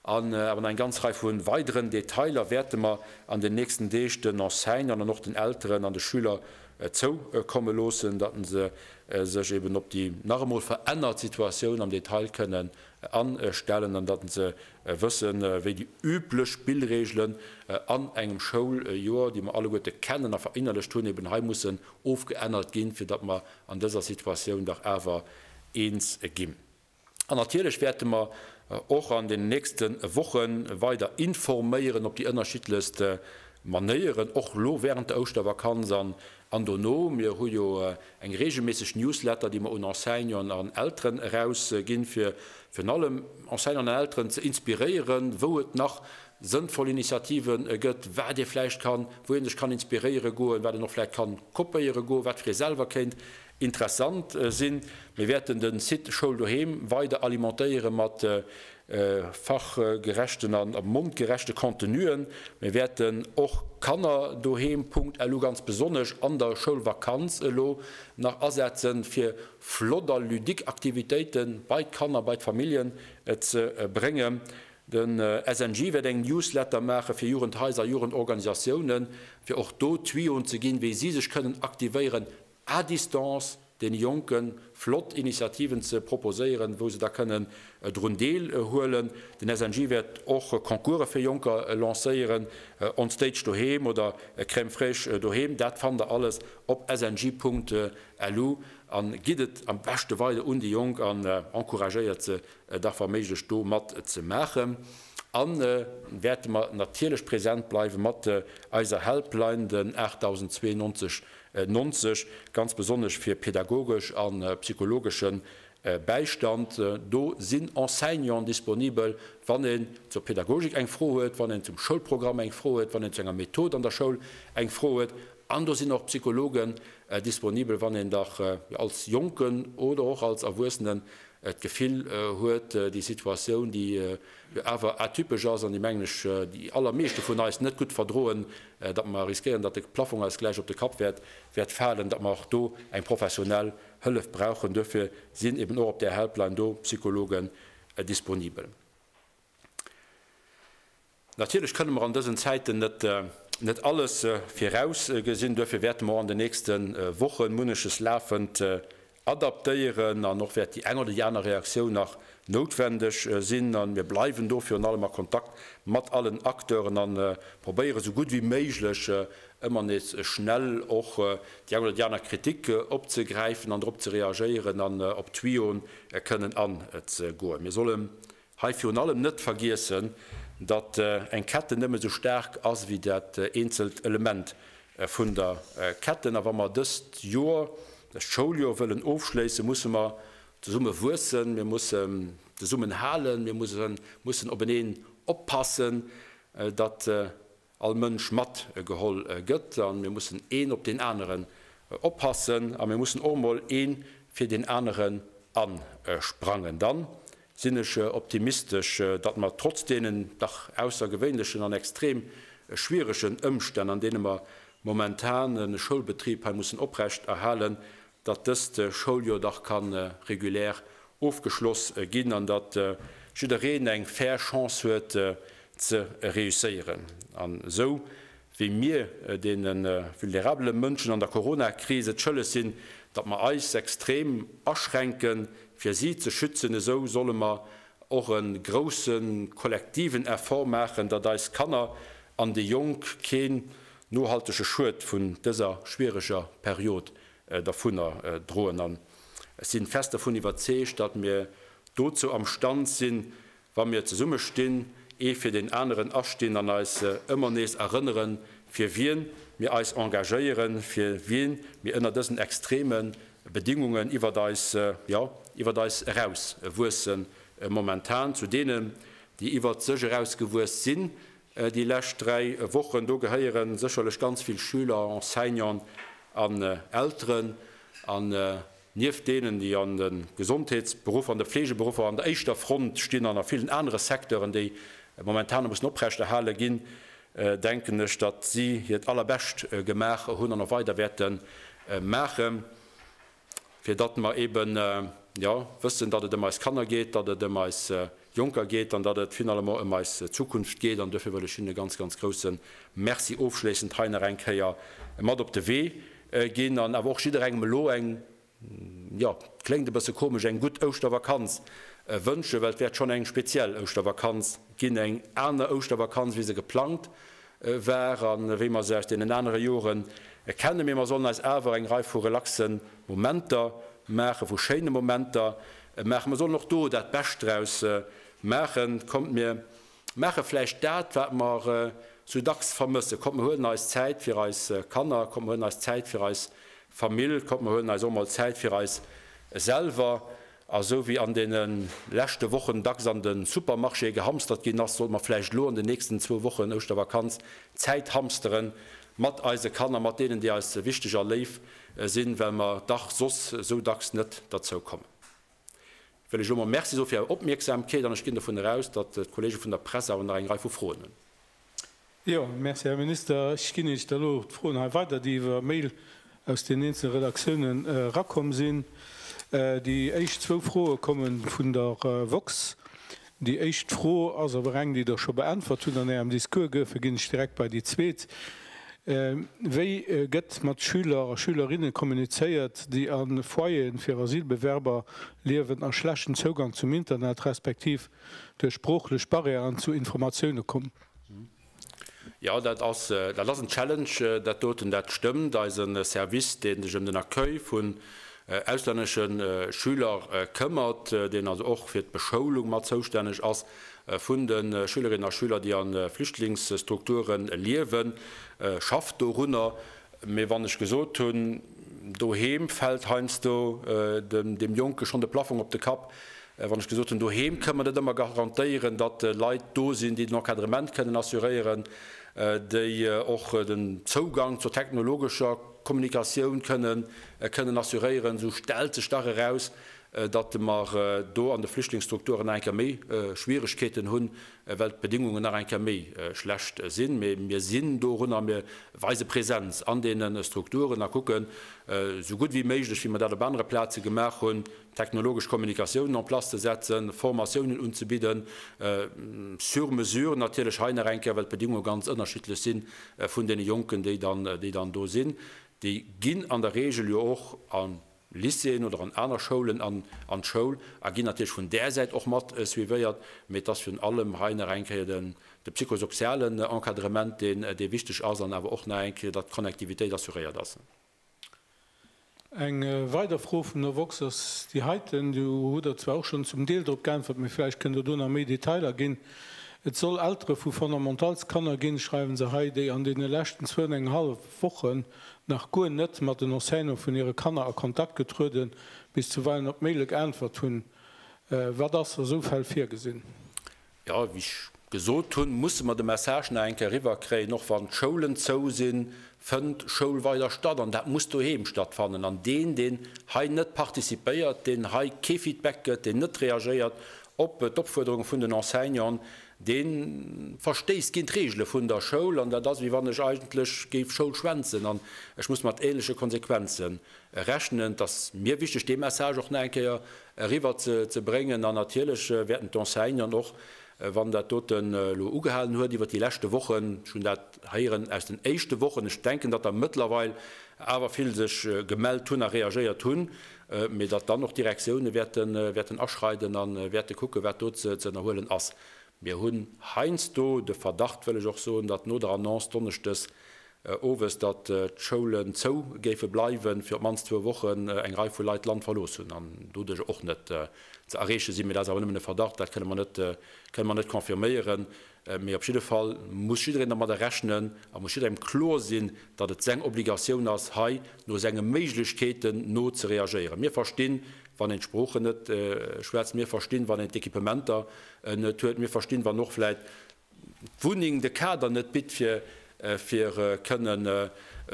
an awer nach eng ganz Rei vu weideren Detailer wäerte mer an den nächsten Deeg den Enseignanten an och den Elteren an de Schüler zoukomme loossen, datt se sech eben op déi nach emol verännert Situatioun am Detail kënnen an stellen an datt se wëssen, wéi déi üblech Spillregelen an engem Schouljoer, déi mer alleguerte kennen a verinnerlecht hunn, eben hei mussen ofgeännert ginn, fir datt mer an dëser Situatioun dach awer eens ginn. An natierlech wäerte mer och an den nächste Woche weider informéieren op déi ënnerschiddlechst Manéieren, och elo wärend der Ouschtervakanz an An dono, mir hu jo eng regelméisseg Newsletter, déi mer un Enseignanten an Elteren erausginn, fir virun allem Enseignanten an Elteren ze inspiréieren, wou et nach sënnvoll Initiative gëtt, wat ee vläicht kann, wou ee sech kann inspiréiere goen, wat een och vläicht kann kopéiere goen, wat fir ee selwer kéint interessant sinn. Mir wäerten de Site Schoul Doheem weider alimentéiere mat fachgerechten an op mondgerechte Contenuen. Mir wäerten och Kanner doheem, Punkt, elo ganz besonnesch an der Schoulvakanz elo nach asetzen, fir flott a ludique Aktivitéite bei d'Kanner, bei d'Familljen ze bréngen. De SNJ wäert eng Newsletter maache fir Jugendhaiser a Jugendorganisatiounen, fir och do Tuyauxen ze ginn, wéi si sech kënnen aktivéieren. à distance den Jonken flott Initiativen ze proposéieren, wou se da kënnen drun deel huelen. Den SNJ wäert och Concourse fir Jonker lancéieren, On Stage Doheem oder Crème fraîche Doheem. Dat fannt der alles op snj.lu a gitt et am beschte weider un déi Jonk an encouragéiert se da wa méiglech do mat ze maachen. A wäerte mer natierlech präsent bleiwe mat eiser Helpline, den 8092 90, ganz besonnesch fir pädagogesch a psychologesche Bäistand. Do sinn Enseignanten disponibel, wann een zur Pädagogik eng Fro huet, wann een zum Schoulprogramm eng Fro huet, wann een zu enger Method an der Schoul eng Fro huet. An do sinn och Psychologen disponibel, wann een dach als Jonken oder och als Erwuessenen d'Gefill huet, déi Situatioun, déi jo awer atypesch ass an déi, mengen ech, déi allermeeschte vun eis net gutt verdroen, datt mer riskéieren, datt de Plaffong eis gläich op de Kapp wäert falen, datt mer och do eng professionell Hëllef brauchen. Duerfir sinn eben och op där Helpline do Psychologen disponibel. Natierlech kënne mer an dësen Zäiten net alles virausgesinn. Duerfir wäerte mer och an den nächste Woche munneches lafend adaptéieren an och wäert déi eng oder déi aner Reaktioun nach noutwendeg sinn. A mir bleiwen do virun allem a Kontakt mat allen Acteuren a probéiere sou gutt wéi méiglech ëmmer nees schnell och déi eng oder déi aner Kritik opzegräifen an drop ze reagéieren an op d'Tuyauxen kënnen anzegoen. Mir solle Hei virun allem net vergiessen, datt eng Ketten nëmme sou staark ass wéi dat eenzelt Element vun der Ketten. A wa mer dëst Joer, dëst Schouljoer wëllen ofschléissen, musse mer zesumme wuessen, mir mussen zesummen halen, mir mussen openeen oppassen, datt all Mënsch mat geholl gëtt a mir mussen een op deen aneren oppassen a mir mussen och emol een fir deen aneren asprangen, dann sinn ech optimistesch, datt mer trotz deenen dach aussergewéinlechen an extrem schwieregen Ëmstänn an deene mer momentan e Schoulbetrib hei mussen oprecht erhalen, datt dëst Schouljoer dach ka regulär ofgeschloss ginn an datt jiddereen eng fair Chance huet ze reusséieren an esou wéi mir deene vulnerabele Mënschen an der Coronakris et schëlleg sinn, datt mer eis extrem aschränke fir si ze schützen, esou solle mer och e grousse kollektiven Effort maachen, datt eis Kanner an déi Jonk keen nohaltege Schued vun dëser schwiereger Period dervunner droen an ech sinn fest dervun iwwerzeegt, datt mir dozou am Stand sinn, wa mir zesumme stinn, ee fir deen aneren astinn an eis ëmmer nees erënneren, fir wien mir eis engagéieren, fir wien mir ënner dësen extreme Bedingungen iwwert eis, jo, iwwert eis eraus wuessen, momentan zu deenen, déi iwwert sech eraus gewuess sinn, Déi lescht dräi Wochen, do gehéiere sécherlech ganz vill Schüler, Enseignanten an Elteren an nieft deenen, déi an de Gesondheetsberuffer, an de Fleegeberuffer an der éischter Front stinn an a villen anere Secteuren, déi momentane mussen oprechterhale ginn, denken ech, datt si hiert Allerbescht gemaach hunn an och weider wäerte maachen. fir datt mer eben wëssen, datt et ëm eis Kanner geet, datt et ëm eis Jonker geet an datt et finalement ëm eis Zukunft geet. An duerfir wëll ech hinne ganz, ganz grousse Merci ofschléissend hei nach eng Kéier mat op de Wee ginn an awer och jidderengem elo eng, jo, kléngt e bësse komesch, eng gutt Ouschtervakanz wënschen, well et wäert schonn eng speziell Ouschtervakanz ginn, eng aner Ouschtervakanz wéi se geplangt war a wéi mer se aus deenen anere Jore kennen. Mee mer sollen eis awer eng Rei vu relaxe Momenter maachen, vu schéine Momenter maachen. Mer sollen och do dat Bescht draus maachen. Kommt mir maache vläicht dat, wat mer sou dacks vermëssen. Kommt mer huelen eis Zäit fir eis Kanner, kommt mer huelen eis Zäit fir eis Famill, kommt mer huelen eis och mol Zäit fir eis selwer. A sou wéi an deene leschte Wochen dacks an de Supermarchéë gehamstert ginn ass, sollte mer vläicht elo an den nächsten zwou Wochen, Ouschtervakanz, Zäit hamstere mat eise Kanner, mat deenen, déi eis wichteg a léif sinn, well mer dach soss sou dacks net derzou kommen. Wëll ech elo emol Merci soe fir Är Opmierksamkeet an ech ginn dovun eraus, datt d'Kollege vun der Press awer nach eng Rei vu Froen hunn. Jo, merci, Här Minister. Ech ginn Iech da elo d'Froen hei weider, déi iwwer Mail aus den eenzele Redaktioune rakomm sinn. Déi éischt zwou Froe komme vun der woxx. Déi éischt Fro ass awer eng, déi Der scho beäntwert hutt an Ärem Discours, duerfir ginn ech direkt bei déi zweet. Wéi gëtt mat Schüler a Schülerinne kommunizéiert, déi a Foyeren fir Asylbewerber liewen a schlechten Zougang zum Internet respektiv Duerch sproochlech Barrièren zu Informatioune kommen. Jo, dat ass en Challenge dat doten, dat stëmmt. Eise Service, dee sech ëm den Accueil vun auslännesche Schüler këmmert, deen also och fir d'Beschoulung mat zoustänneg ass vun de Schülerinnen a Schüler, déi a Flüchtlingsstrukture liewen, schafft dorunner. Mee wann ech gesot hunn, doheem fält heiansdo dem Jonke schonn de Plaffong op de Kapp, wann ech gesot hunn, doheem kënne mer net ëmmer garantéieren, datt Leit do sinn, déi den Encadrement kënnen assuréieren, déi och den Zougang zur technologescher Kommunikatioun kënnen assuréieren, esou stellt sech dach eraus, datt mer do an de Flüchtlingsstrukturen nach eng Kéier méi Schwieregkeeten hunn, well d'Bedingungen nach eng Kéier méi schlecht sinn. Mee mir sinn dorun a mir weise Präsenz an deene Strukturen a kucken esou gutt wéi méiglech, wéi mer dat op anere Plaze gemaach hunn, technologesch Kommunikatiounen en place ze setzen, Formatiounen unzebidden, sur mesure natierlech hei nach eng Kéier, well d'Bedingunge ganz ënnerschiddlech si vun deene Jonken, déi dann do sinn. Déi ginn an der Regel jo och, an Lycéeën oder an aner Schoulen an an d'Schoul a ginn natierlech vun där Säit och mat suivéiert. Mee et ass virun allem hei nach eng Kéier den de psychosozialen Encadrement, deen dee wichteg ass an awer och nach eng Kéier, datt d'Connectivitéit assuréiert ass. Eng weider Fro vum der woxx ass déi heiten, do hutt Der zwar och schonn zum Deel drop geäntwert, mee vläicht kënnt Der do nach méi Detailer ginn. Et soll Eltere vu Fondamentals-Kanner ginn, schreiwen se hei, déi an deene leschten zwou an eng hallef Wochen nach guer net mat den Enseignante vun hire Kanner a Kontakt getrueden, bis zuweilen op Maile geäntwert hunn. Wat ass a sou Fäll virgesinn? Jo, wéi ech gesot hunn, musse mer de Message nach eng Kéier eriwwerkréien, och wann d'Schoulen zou sinn, fënnt Schoul weider statt an dat muss doheem stattfannen. An deen, deen hei net participéiert, deen hei kee Feedback gëtt, deen net reagéiert op d'Opfuerderunge vun den Enseignanten, Dee verstéisst géint d'Reegele vun der Schoul, an dat ass, wéi wann ech eigentlech géif Schoul schwänzen an ech muss mat ähnleche Konsequenze rechnen. Et ass mir wichteg, dee Message och nach eng Kéier eriwwer ze bréngen. An natierlech wäerten d'Enseignanten, och wann dat doten elo ugehalen huet iwwert déi leschte Wochen, ech hunn dat héieren aus den éischte Wochen, ech denken, datt der mëttlerweil awer vill sech gemellt hunn a reagéiert hunn, mee datt dann och d'Direktioune wäerten aschreiden a wäerte kucken, wat do ze ënnerhuelen ass. Mir hunn heiansdo de Verdacht, wëll ech och soen, datt no der Annonce donneschdes owes, datt d'Schoulen zou géife bleiwen, fir op d'mannst zwou Wochen, eng Rei vu Leit d'Land verlooss hunn an doduerch och net ze erreeche sinn. Mee dat ass awer nëmmen e Verdacht, dat kënne mer net confirméieren. Mee op jidde Fall muss jiddereen dermadder rechnen a muss jidderengem kloer sinn, datt et seng Obligatioun ass, hei no senge Méiglechkeeten no ze reagéieren. Mir verstinn, wann een d'Sproochen net schwätzt, mir verstinn, wann een d'Equipementer net huet, mir verstinn, wann och vläit d'Wunneng de Kader net bitt, fir kënnen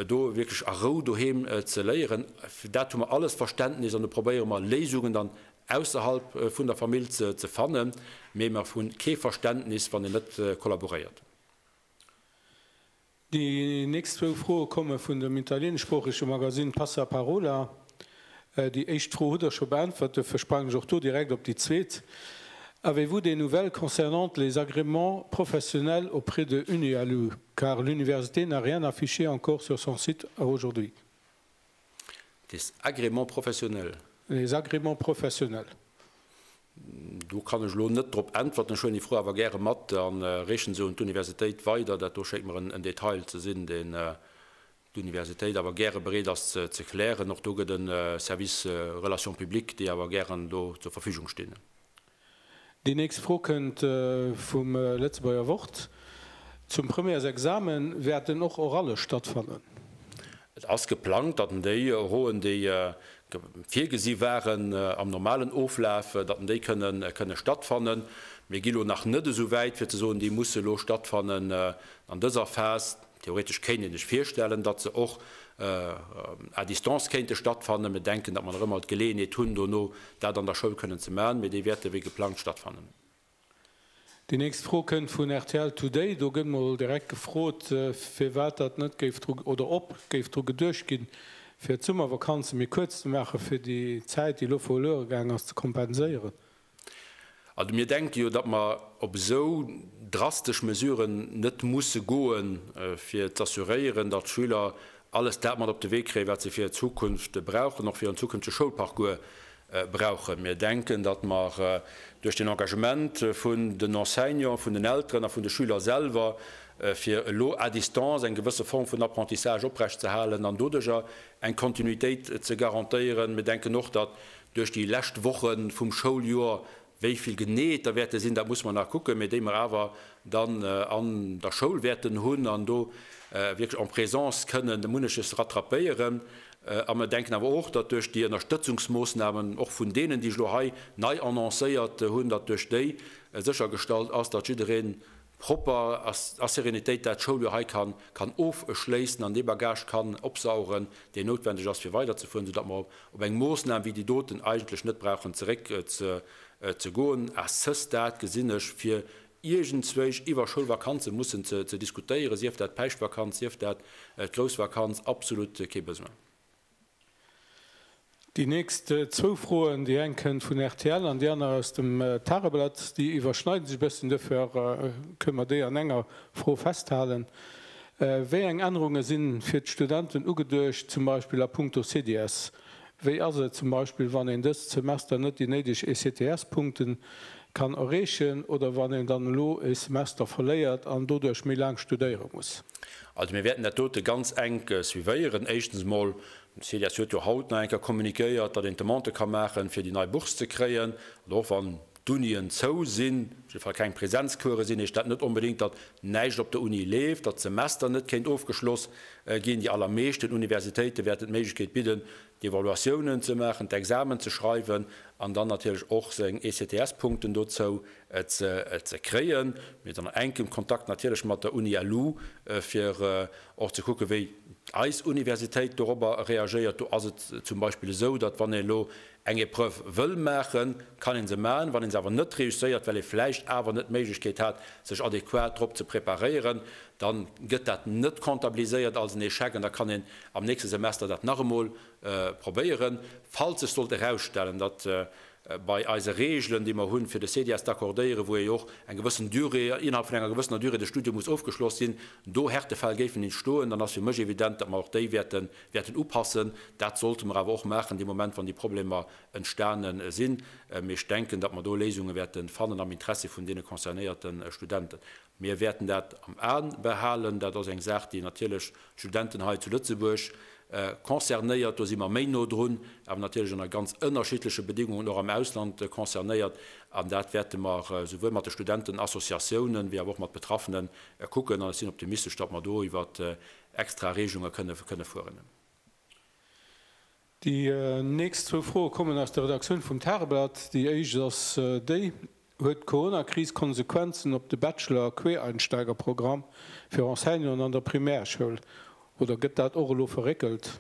do wierklech a Rou doheem ze léieren. Fir dat hu mer alles Verständnis an do probéiere mer Léisungen dann ausserhalb vun der Famill ze fannen, mee mer hu kee Verständnis, wann een net kollaboréiert. Déi nächst zwou Froe komme vun dem italieeneschsproochege Magasinn Passaparola. Déi éischt Fro hutt Der scho beäntwert, duerfir sprang ech och do direkt op déi zweet. Avez-vous des nouvelles concernant les agréments professionnels auprès de Unealu, car l'université n'a rien affiché encore sur son site à aujourd'hui? Des agréments professionnels. Les agréments professionnels. Do kann ech elo net drop äntwerten. Ech huelen déi Fro awer gäre mat a reechen se un d'Universitéit weider. Dat do schéngt mer en Detail ze sinn, deen d'Universitéit awer gäre bereet ass ze klären. Och do gëtt e Service Relations publiques, déi awer gären do zur Verfügung stinn. Déi nächst Fro kënnt vum Lëtzebuerger Wort, Zum Premièresexame wäerten och Oralle stattfannen? Et ass geplangt, datt en déi Rouen, déi virgesi waren am normalen Oflaf, datt en déi kënne stattfannen. Mir gi lo nach net esou wäit, fir ze soen, déi musse lo stattfannen an dëser Phas. Theoretesch kéint een sech virstellen, datt se och à distance kéinte stattfannen. Mir denken, datt mer nach ëmmer d'Geleeënheet hunn dono, dat an der Schoul kënnen ze maachen, mee déi wäerte wéi geplangt stattfannen. Déi nächst Fro kënnt vun rtl Today. Do gëtt mol direkt gefrot, firwat datt net géif dru oder ob géif dru geduecht ginn, fir d'Summervakanze méi kuerz ze maachen, fir déi Zäit, déi elo verluere gaangen ass, ze kompenséieren. An mir denke jo, datt mer op esou drastesch Mesuren net musse goen, fir z'assuréieren, datt d'Schüler alles dat mat op de Wee kréien, wat se fir hir Zukunft brauchen, och fir hiren zukünftege Schoulparcours brauchen. Mir denken, datt mer duerch den Engagement vun den Enseignanten, vun den Elteren a vun de Schüler selwer, fir elo à distance eng gewësse Form vun Apprentissage oprecht ze halen an doduerjer eng Kontinuitéit ze garantéieren, mir denken och, datt Duerch déi lescht Woche vum Schouljoer, wéi vill genee et der wäerte sinn, dat musse mer nach kucken, mee déi mer awer dann an der Schoul wäerten hunn an do wierklech en présence kënnen munneches rattrapéieren. A mer denken awer och, datt duerch déi Ënnerstëtzungsmoossnamen, och vun deenen, déi ech elo hei nei annoncéiert hunn, datt duerch déi séchergestallt ass, datt jiddereen propper a Serenitéit dat Schouljoer hei kann ofschléissen an dee Bagage kann opsaugen, deen noutwendeg ass, fir weiderzefueren, soudatt mer op eng Moosnam wéi déi doten eigentlech net brauchen zeréckzegoen. À ce stade gesinn ech, fir iergendzwéi iwwer Schoulvakanze mussen ze diskutéieren, sief dat d'Päischtvakanz, sief dat d'Groussvakanz, absolut kee Besoin. Déi nächst zwou Froen, déi eng kënnt vun rtl an déi aner aus dem Tageblatt, déi iwwerschneide sech e bësschen. Duerfir kënnen mer déi an enger Fro festhalen. Wéi eng Ännerunge si fir d'Studenten ugeduecht, zum Beispill a punkto CDS? Wéi ass et zum Beispill, wann een dëst Semester net déi néideg ECTS-Punkten kann erreechen oder wann een dann elo e Semester verléiert an doduerch méi laang studéiere muss. Also mir wäerten dat dote ganz enk suivéieren. Éischtens emol, den Celias huet jo haut nach eng Kéier kommuniquéiert, datt een d'Demande ka maachen, fir déi nei Bourse ze kréien. Also och wann d'Unien zou sinn, op jidde Fall keng Presenzcourse sinn, heescht dat net onbedéngt, datt näischt op der Uni leeft, datt d'Semester net kéint ofgeschloss ginn. Déi allermeeschten Universitéite wäerten d'Méiglechkeet bidden, d'Evaluatiounen ze maachen, d'Examen ze schreiwen an dann natierlech och seng ECTS-Punkten dozou ze kréien. Mir sinn an enkem Kontakt natierlech mat der Uni LU, fir och ze kucken, wéi eis Universitéit dorobber reagéiert. Do ass et zum Beispill esou, datt, wann een elo eng Épreuve wëll maachen, kann ee se maachen, wann ee se awer net reusséiert, well ee vläicht awer net d'Méiglechkeet hat, sech adequat drop ze preparéieren, da gëtt dat net comptabiliséiert als en Échec an da kann een am nächste Semester dat nach emol probéieren. Falls sech sollt erausstellen, datt bei eise Regelen, déi mer hunn, fir de CDS d'accordéieren, wou jo och eng gewëssen Durée, innerhalb vun enger gewëssener Durée de Studium muss ofgeschloss sinn, do Härtefäll géifen entstoen, dann ass fir mech evident, datt mer och déi wäerten upassen. Dat sollte mer awer och maachen dee Moment, wann déi Problemer entstane sinn. Mee ech denken, datt mer do Léisunge wäerte fannen am Interessi vun deene concernéierte Studenten. Mir wäerten dat am A behalen. Dat ass eng Saach, déi natierlech d'Studenten hei zu Lëtzebuerg concernéiert. Do si mer méi no drun, awer natierlech ënner ganz ënnerschiddleche Bedingungen och am Ausland concernéiert. An dat wäerte mer souwuel mat de Studentenassociatiounen wéi awer och mat Betraffene kucken. An ech sinn optimistesch, datt mer do iwwert extra Regelunge kënne fueren. Déi nächst zwou Froe kommen aus der Redaktioun vum Tageblatt. Déi éischt ass déi, Huet d'Corona-Kris Konsequenzen op de Bachelor a Quereinsteigerprogramm fir Enseignanten an der Primärschoul oder gëtt dat och elo verréckelt?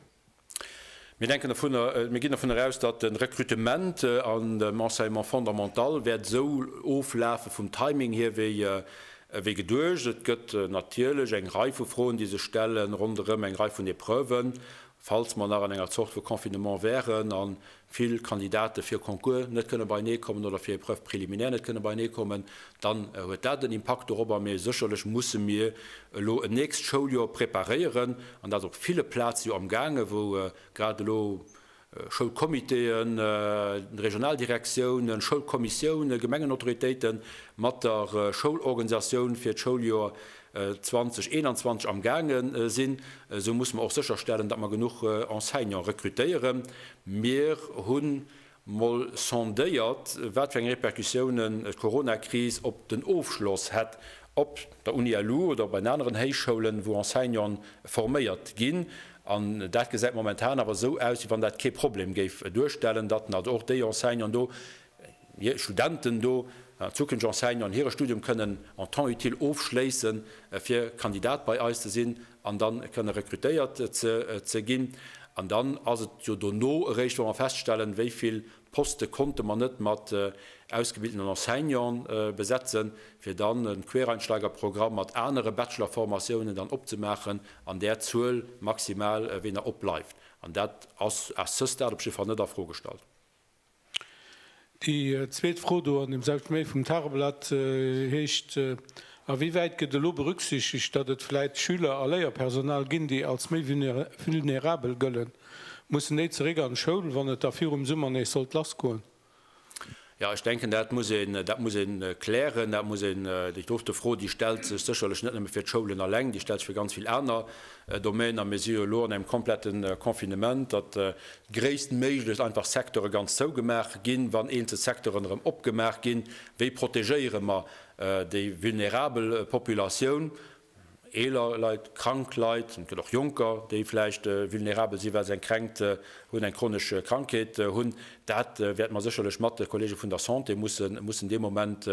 Mir denken dovun, mir ginn dovun eraus, datt de Rekrutement an dem Enseignement fondamental wäert esou oflafe vum Timing hier wéi geduecht. Et gëtt natierlech eng Rei vu Froen, déi sech stellen ronderëm eng Rei vun Epreuven Falls mer nach an enger Zort vu Confinement wären a vill Kandidate fir e Concours net kënne beienee kommen oder fir Épreuves préliminaires net kënne beienee kommen, dann huet dat en Impakt dorobber. Mee sécherlech musse mir elo en nächst Schouljoer preparéieren an dat ass op ville Plaze jo amgaange, wou grad elo Schoulcomitéen, Regionaldirektiounen, Schoulkommissiounen, Gemengenautoritéite mat der Schoulorganisatioun fir d'Schouljoer 2021 amgaange sinn, esou musse mer och sécherstellen, datt mer genuch Enseignant rekrutéieren. Mir hu mol sondéiert, wat fir eng Repercussiounen d'Coronakris op den Ofschloss hätt op der UNILU oder op den aneren Héichschoulen, wou Enseignanten forméiert ginn. An dat gesäit momentan awer esou aus, wéi wann dat kee Problem géif duerstellen, datt also och déi Enseignanten do Hir Studenten do an zukünfteg Enseignanten hire Studium kënnen en temps utile ofschléissen, fir Kandidat bei eis ze sinn an da kënne rekrutéiert ze ginn. An dann ass et jo dono eréischt, wa mer feststellen, wéi vill Poste konnte mer net mat ausgebildeten Enseignanten besetzen, fir dann e Quereinsteigerprogramm mat anere Bachelorformatiounen dann opzemaachen an där Zuel maximal, wéi nach opbleift. An dat ass à ce stade op jidde Fall net a Fro gestallt. Déi zweet Fro do an dem selwechte Mail vum Tageblatt heescht, A wéi wäit gëtt elo berücksichtegt, datt et vläit Schüler a Léierpersonal ginn, déi als méi vulnerabel gëllen? Mussen déi zeréck an d'Schoul, wann et da virum Summer nees sollt lassgoen? Jo, ech denken, dat muss een, dat muss ee klären. Dat muss een, déi dofte Fro, déi stellt sech sécherlech net nëmme fir d'Schoulen eleng, déi stellt sech fir ganz vill aner Domaine a mir si jo elo an engem komplette Confinement, datt gréisstméiglechst einfach Secteure ganz zougemaach ginn. Wann eenzel Secteuren erëm opgemaach ginn, wéi protegéiere mer déi vulnerabel Populatioun, eeler Leit, krank Leit, et gëtt och Jonker, déi vläicht vulnerabel sinn, well se eng Kränkt hunn, eng chronesch Krankheet hunn? Dat wäerte mer sécherlech mat de Kollege vun der Santé mussen dee Moment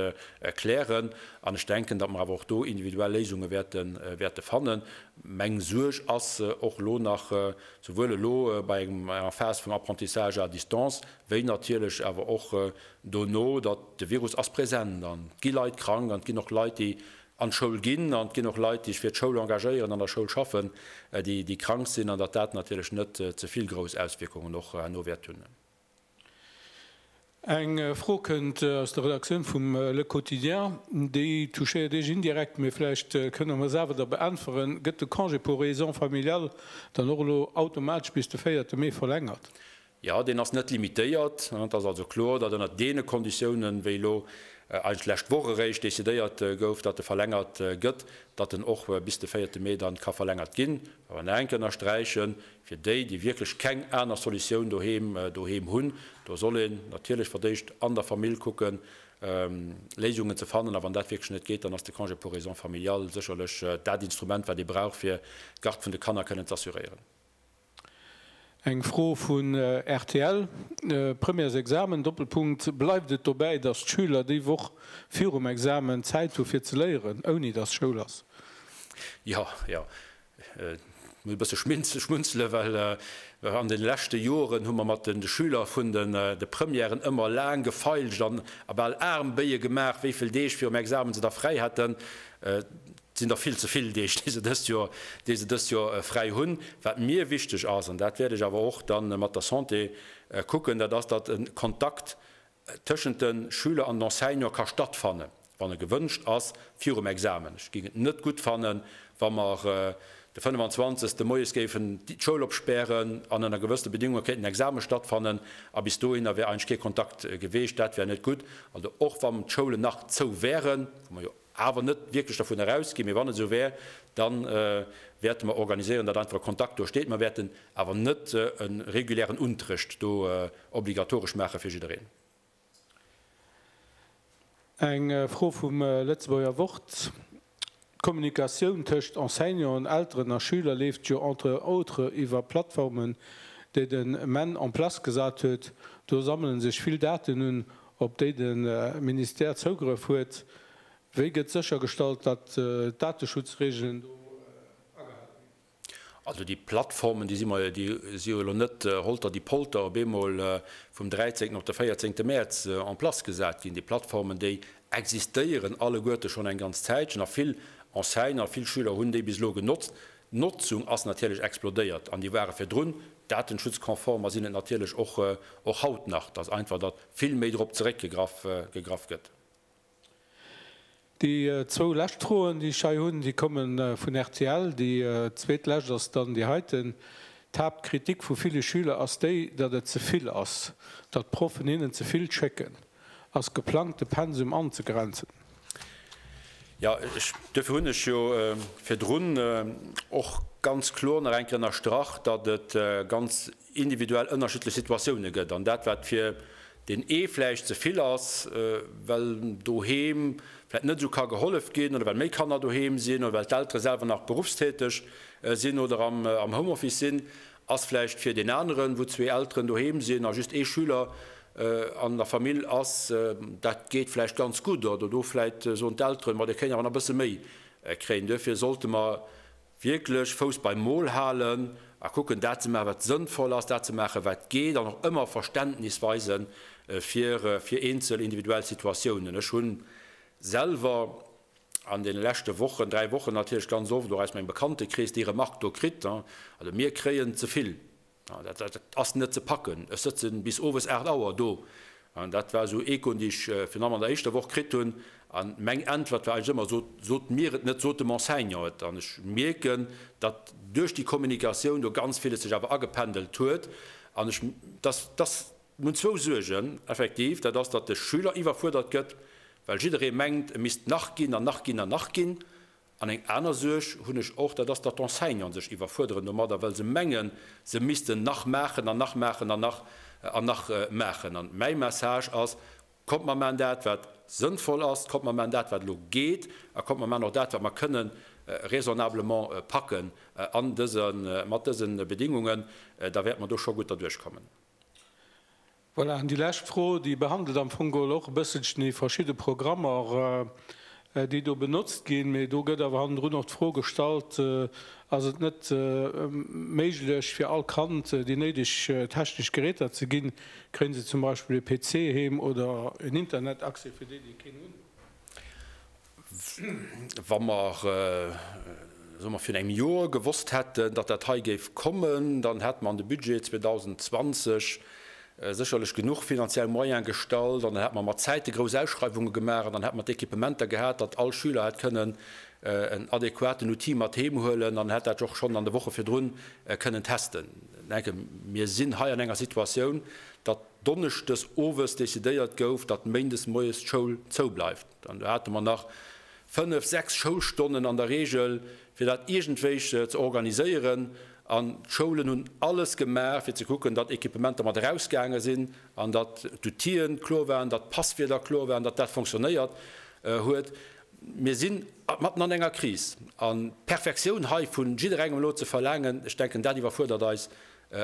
klären. An ech denken, datt mer awer och do individuell Léisunge wäerte fannen. Meng Suerg ass och elo nach, souwuel elo bei enger Phase vum Apprentissage à distance, wéi natierlech awer och dono, datt de Virus ass present an et gi Leit krank an et ginn och Leit, déi an d'Schoul ginn an et ginn och Leit, déi sech fir d'Schoul engagéieren, an der Schoul schaffen, déi krank sinn an datt dat natierlech net ze vill grouss Auswierkungen och herno wäert hunn. Eng Fro kënnt aus der Redaktioun vum Le Quotidien. Déi touchéiert Iech indirekt, mee vläicht kënnt Der mer se awer da beäntweren, Gëtt de Congé pour raisons familiales dann och elo automatesch bis de véierte Mee verlängert? Jo, deen ass net limitéiert. Et ass also kloer, datt ënner deene Konditiounen, wéi elo eigentlech d'lescht Woch eréischt decidéiert gouf, datt e verlängert gëtt, datt en och bis de véierte Mee dann ka verlängert ginn. Awer nach eng Kéier ënnersträichen, Fir déi, déi wierklech keng aner Solutioun doheem doheem hunn, do soll een natierlech fir d'éischt an der Famill kucken, Léisungen ze fannen. A wann dat wierklech net geet, dann ass de Congé pour raisons familiales sécherlech dat Instrument, wat ee brauch, fir d'Garde vun de Kanner kënnen z'assuréieren. Eng Fro vun rtl, Premières Examen, Doppelpunkt, Bleift et dobäi, datt d'Schüler déi Woch virum Examen Zäit hu fir ze léieren, ouni datt Schoul ass? Jo, jo. Ech muss e bësse schmunzele well an de leschte Joren hu mer mat de Schüler vun de Premièren ëmmer laang gefeilscht an a bal aarm Béie gemaach, wéi vill Deeg virum Examen se da fräi hätten. Et sinn der vill ze vill Deeg, déi se dëst Joer, déi se dëst Joer fräi hunn. Wat mir wichteg ass, an dat wäert ech awer och da mat der Santé kucken, dat ass, datt e Kontakt tëschent de Schüler an den Enseignant ka stattfanne wann e gewënscht ass virum Examen. Ech géing et net gutt fannen, wa mer de 25 Moies géifen d'Schoul opspären an ënner gewëssene Bedingunge kéint en Examen stattfannen a bis dohinner wär eigentlech kee Kontakt geweecht. Dat wär net gutt. Also och wann d'Schoulen nach zou wären, wou mer jo, awer net wierklech dervun erausginn, mee wann et esou wär, da wäerte mer organiséieren, datt einfach e Kontakt do steet, mer wäerten awer net e regulären Unterrecht do obligatoresch maache fir jiddereen. Eng Fro vum Lëtzebuerger Wort, D'Kommunikatioun tëscht Enseignanten, Elteren a Schüler leeft jo entre autres iwwer Plattformen, déi den men en place gesat huet. Do sammele sech vill Daten un, op déi de Ministère Zougrëff huet, wéi gëtt séchergestallt, datt d'Dateschutzreegelen do agehale ginn? Also déi Plattformen, déi si jo elo net holter-di-polter op eemol vum 13 op de 14 Mäerz en place gesat ginn. Déi Plattformen, déi existéieren alleguerte schonn eng ganz Zäitchen a vill Enseigne a vill Schüler hunn déi bis elo genotzt. D'Notzung ass natierlech explodéiert, an déi ware virdrun datenschutzkonform a sinn et natierlech och och haut nach. Dass einfach datt vill méi drop zeréckgegraff gegraff gëtt. Déi zwou lescht Froen, déi ech hei hunn, déi komme vun rtl. Déi zweetlescht ass dann déi heiten, D'Haaptkritik vu ville Schüler ass déi, datt et ze vill ass, datt d'Proffen hinnen ze vill schécken. Ass geplangt de Pensum anzegrenzen? Jo, duerfir hunn ech jo virdrun och ganz kloer nach eng Kéier ënnerstrach, datt et ganz individuell ënnerschiddlech Situatioune gëtt. An dat wat fir deen ee vläicht ze vill ass, well doheem vläicht net esou ka gehollef ginn oder well méi Kanner doheem sinn oder well d'Eltere selwer nach berufstäteg sinn oder am Homeoffice sinn, Ass vläicht fir deen aneren, wou zwee Elteren doheem sinn a just ee Schüler an der Famill ass, dat geet vläicht ganz gutt, oder do vläicht soen d'Elteren, ma dir kéint awer nach e bësse méi kréien. Duerfir sollte mer wierklech Fouss beim Mol halen a kucken, dat ze maachen, wat sënnvoll ass, dat ze maachen, wat geet, an och ëmmer Verständnis weise fir eenzel individuell Situatiounen. Ech hu selwer. an deene leschte Wochen, dräi Wochen natierlech ganz oft och aus mengem Bekanntekrees déi Remark do kritt, also mir kréien ze vill, dat ass net ze packen, ech sëtze bis owes aacht Auer do. Dat war esou ee Coup, dee ech virun allem an der éischter Woch kritt hunn. An meng Äntwert war eigentlech ëmmer, Sot, sot mir et net, sot dem Enseignant et. An ech mierken, datt duerch déi Kommunikatioun do ganz villes sech awer agependelt huet an ech, datt, datt Mir hunn zwou Suergen, effektiv. Dat ass, datt de Schüler iwwerfuerdert gëtt, well jidderee mengt, e misst nach ginn an nach ginn an nach ginn. An eng aner Suerg hunn ech och, dat ass, datt d'Enseignanten sech iwwerfuerderen domadder, well se mengen, se missten nach maachen an nach maachen an nach an nach maachen. An mäi Message ass, Kommt, mer maachen dat, wat sënnvoll ass, kommt, mer maachen dat, wat elo geet, a kommt, mer maachen och dat, wat mer kënnen raisonnablement packen an dëse mat dëse Bedingungen. Da wäerte mer do scho gutt derduerchkommen. Voilà, an déi lescht Fro, déi behandelt am Fong geholl och e bësselchen déi verschidde Programmer, déi do benotzt ginn. Mee do gëtt awer hannendrun och d'Fro gestallt, Ass et net méiglech fir all Kand déi néideg technesch Geräter ze ginn? Kréien se zum Beispill e PC heem oder en Internetaccès fir déi, déi keen hunn? Wa mer, soe mer, virun engem Jor gewosst hätten, datt dat hei géif kommen, dann hätte mer an de Budget 2020 sécherlech genuch finanziell Moyen gestallt an dann hätte mer mat Zäite grouss Ausschreiwunge gemaach an dann hätte mer d'Equipementer gehat, datt all Schüler hätt kënnen en adequaten Outil mat heem huelen an hätt dat och schonn an de Woche virdrun kënnen testen. Ech denken, mir sinn hei an enger Situatioun, datt donneschdes owes decidéiert gouf, datt méindes moies d'Schoul zoubleift. Dann do hate mer nach fënnef, sechs Schoulstonnen an der Reegel, fir dat iergendwéi ze organiséieren. An d'Schoulen hunn alles gemaach, fir ze kucken, datt Equipementer mat erausgaange sinn an datt d'Outillë kloer waren, datt d'Passwierder kloer waren, datt dat fonctionnéiert huet. Mir si matten an enger Kris. An d'Perfektioun hei vu jidderengem elo ze verlaangen, ech denken, dat iwwerfuerdert eis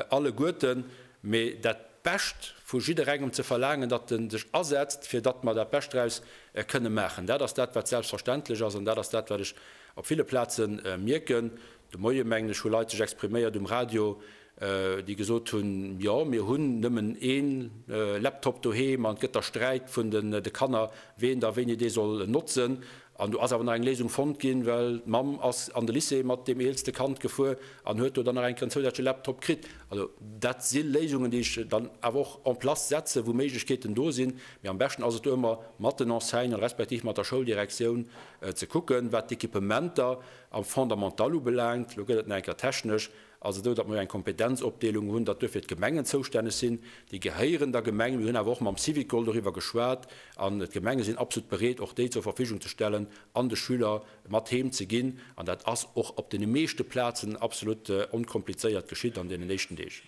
alleguerten, mee dat Bescht vu jidderengem ze verlaangen, datt e sech asetzt, fir datt mer dat Bescht draus kënne maachen, dat ass dat, wat selbstverständlech ass. An dat ass dat, wat ech op ville Plaze mierken. De Moie, mengen ech, hu Leit sech expriméiert um Radio, déi gesot hunn, Jo, mir hunn nëmmen ee Laptop doheem an et gëtt da Sträit vun de Kanner, wien da wéini dee soll notzen. An do ass awer nach eng Léisung fonnt ginn, well d'Mamm ass an de Lycée mat deem eelste Kand gefuer an huet do dann nach eng Kéier en zousätzleche Laptop kritt. Also dat si Léisungen, déi ech dann awer och en place setze wou Méiglechkeeten do sinn. Mee am beschten ass et do ëmmer mat den Enseignanten, respektiv mat der Schouldirektioun ze kucken, wat d'Equipementer am Fondamental ubelaangt. Elo gëtt et nach eng Kéier technesch. ass esou, datt mer eng Kompetenzopdeelung hunn, datt duerfir d'Gemengen zoustänneg sinn. Déi gehéieren der Gemeng. Mir hunn awer och mam Syvicol doriwwer geschwat an d'Gemenge sinn absolut bereet, och déi zur Verfügung ze stellen an de Schüler mat heem ze ginn. An dat ass och op deene meeschte Plazen absolut onkomplizéiert geschitt an deenen éischten Deeg.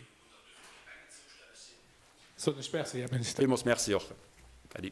Soen ech Merci, Här Minister. Villmools Merci och, Äddi.